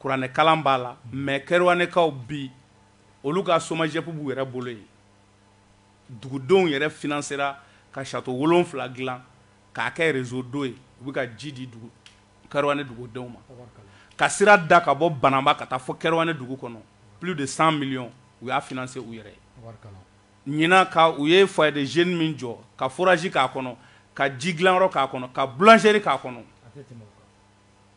kuranɛ kalan b'a la mais Kerouanékaw bi olu ka SOMAGEP b'u yɛrɛ bolo yen dugudenw yɛrɛ finansera ka château wolonwula dilan k'a kɛ réseau d'eau ye u bɛ ka ji di Kerouané dugudenw ma ka sira da ka bɔ Banamba ka taa fɔ Kerouané dugu kɔnɔ plus de cent millions u y'a financé u yɛrɛ ye ɲinan ka u ye foyer de jeunes min jɔ ka forage k'a kɔnɔ ka ji dilanyɔrɔ k'a kɔnɔ ka boulangerie k'a kɔnɔ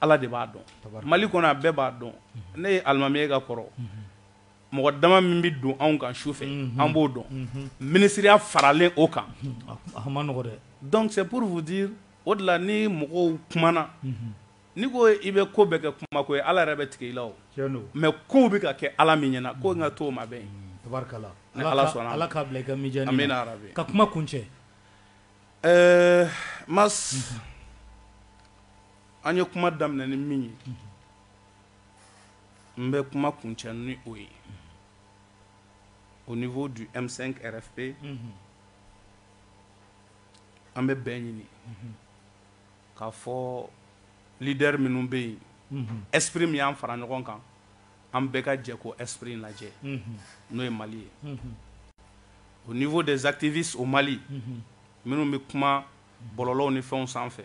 Ala de b'a dɔn mali kɔnɔ a bɛɛ b'a dɔn ne ye alimami ye ka kɔrɔ mɔgɔ dama min bɛ don anw kan su fɛ an b'o dɔn minisiriya faralen o kan donc c'est pour vous dire o de la ni mɔgɔw kumana ni ko i bɛ ko bɛɛ kɛ kuma ko ye ala yɛrɛ bɛ tigɛ i la mais kow bɛ ka kɛ ala min ɲɛna ko n k'a to o ma bɛn ni ala sɔnna ala k'a bila i ka mijaani amiina yarabi ka kuma kuncɛ ɛɛ ma an ye kuma daminɛ ni min ye n bɛ kuma kuncɛ ni o ye au niveau du M5 RFP an bɛ bɛn ɲini k'a fɔ leader minnu bɛ yen esprit min y'an fara ɲɔgɔn kan an bɛɛ ka jɛ k'o esprit in lajɛ n'o ye mali ye au niveau des activistes au mali minnu bɛ kuma bɔlɔlɔw ni fɛnw sanfɛ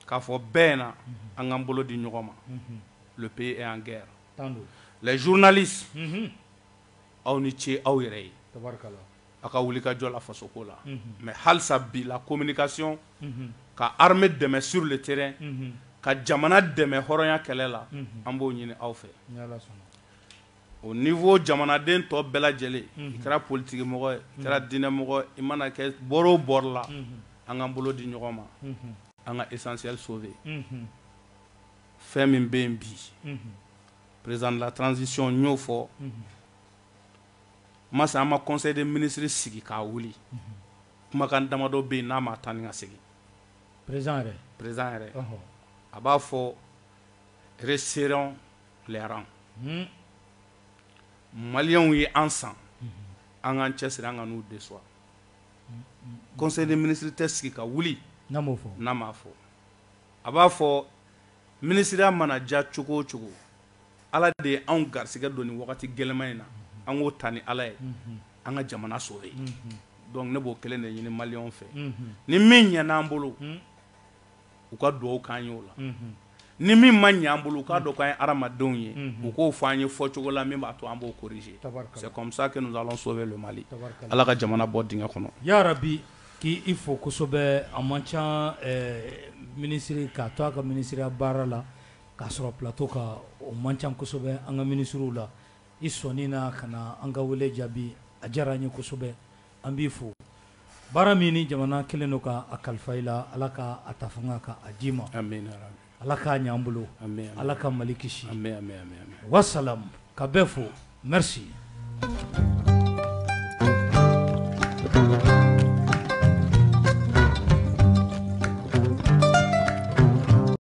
k'a fɔ bɛɛ na an k'an bolo di ɲɔgɔn ma le pays est en guerre les journalistes aw ni ce aw yɛrɛ ye a ka wulikajɔ la fasoko la mais halisa bi la communication ka armée dɛmɛ sur le terrain ka jamana dɛmɛ hɔrɔnya kɛlɛ la an b'o ɲini aw fɛ au niveau jamanaden tɔ bɛɛ lajɛlen i kɛra politikimɔgɔ ye i kɛra diinɛmɔgɔ i mana kɛ bɔrɔ o bɔrɔ la an k'an bolo di ɲɔgɔn ma an ka essentiel sauver fɛn min bɛ yen bi président de la transition y'o fɔ masa an ma conseil des ministres sigi k'a wuli kumakan damadɔ bɛ yen n'a ma taa ni ka segin prés président yɛrɛ a b'a fɔ resserrons Les rangs maliyɛnw ye an san an k'an cɛsiri an kan'u décevoir conseil des ministres tɛ sigi ka wuli n'a m'a fɔ a b'a fɔ minisiriya mana ja cogo o cogo ala de ye anw garisɛgɛ don nin wagati gɛlɛman in na an k'o ta ni ala ye an ka jamana sauver donc ne b'o kelen de ɲini maliyɛnw fɛ ni min ɲɛna an bolo u ka dugawu k'an ye o la ni min ma ɲɛ an bolo u k'a dɔn k'an ye hadamadenw ye u k'o fɔ an ye fɔcogo la min b'a to an b'o corriger c'est comme ça que nous allons sauver le Mali Ala ka jamana bɔ dingɛ kɔnɔ yarabi k'i fo kosɛbɛ a man ca minisiri k'a to a ka minisiriya baara la k'a sɔrɔ plateau kan o man ca kosɛbɛ an ka minisiriw la i sɔnni na ka na an ka wele jaabi a diyara an ye kosɛbɛ. An b'i fo baara min nin jamana kɛlen don ka a kalifa i la ala ka a ta fanga ka a d'i ma ala k'a ɲ'an bolo ala ka mali kisi wassalam ka bɛɛ fo merci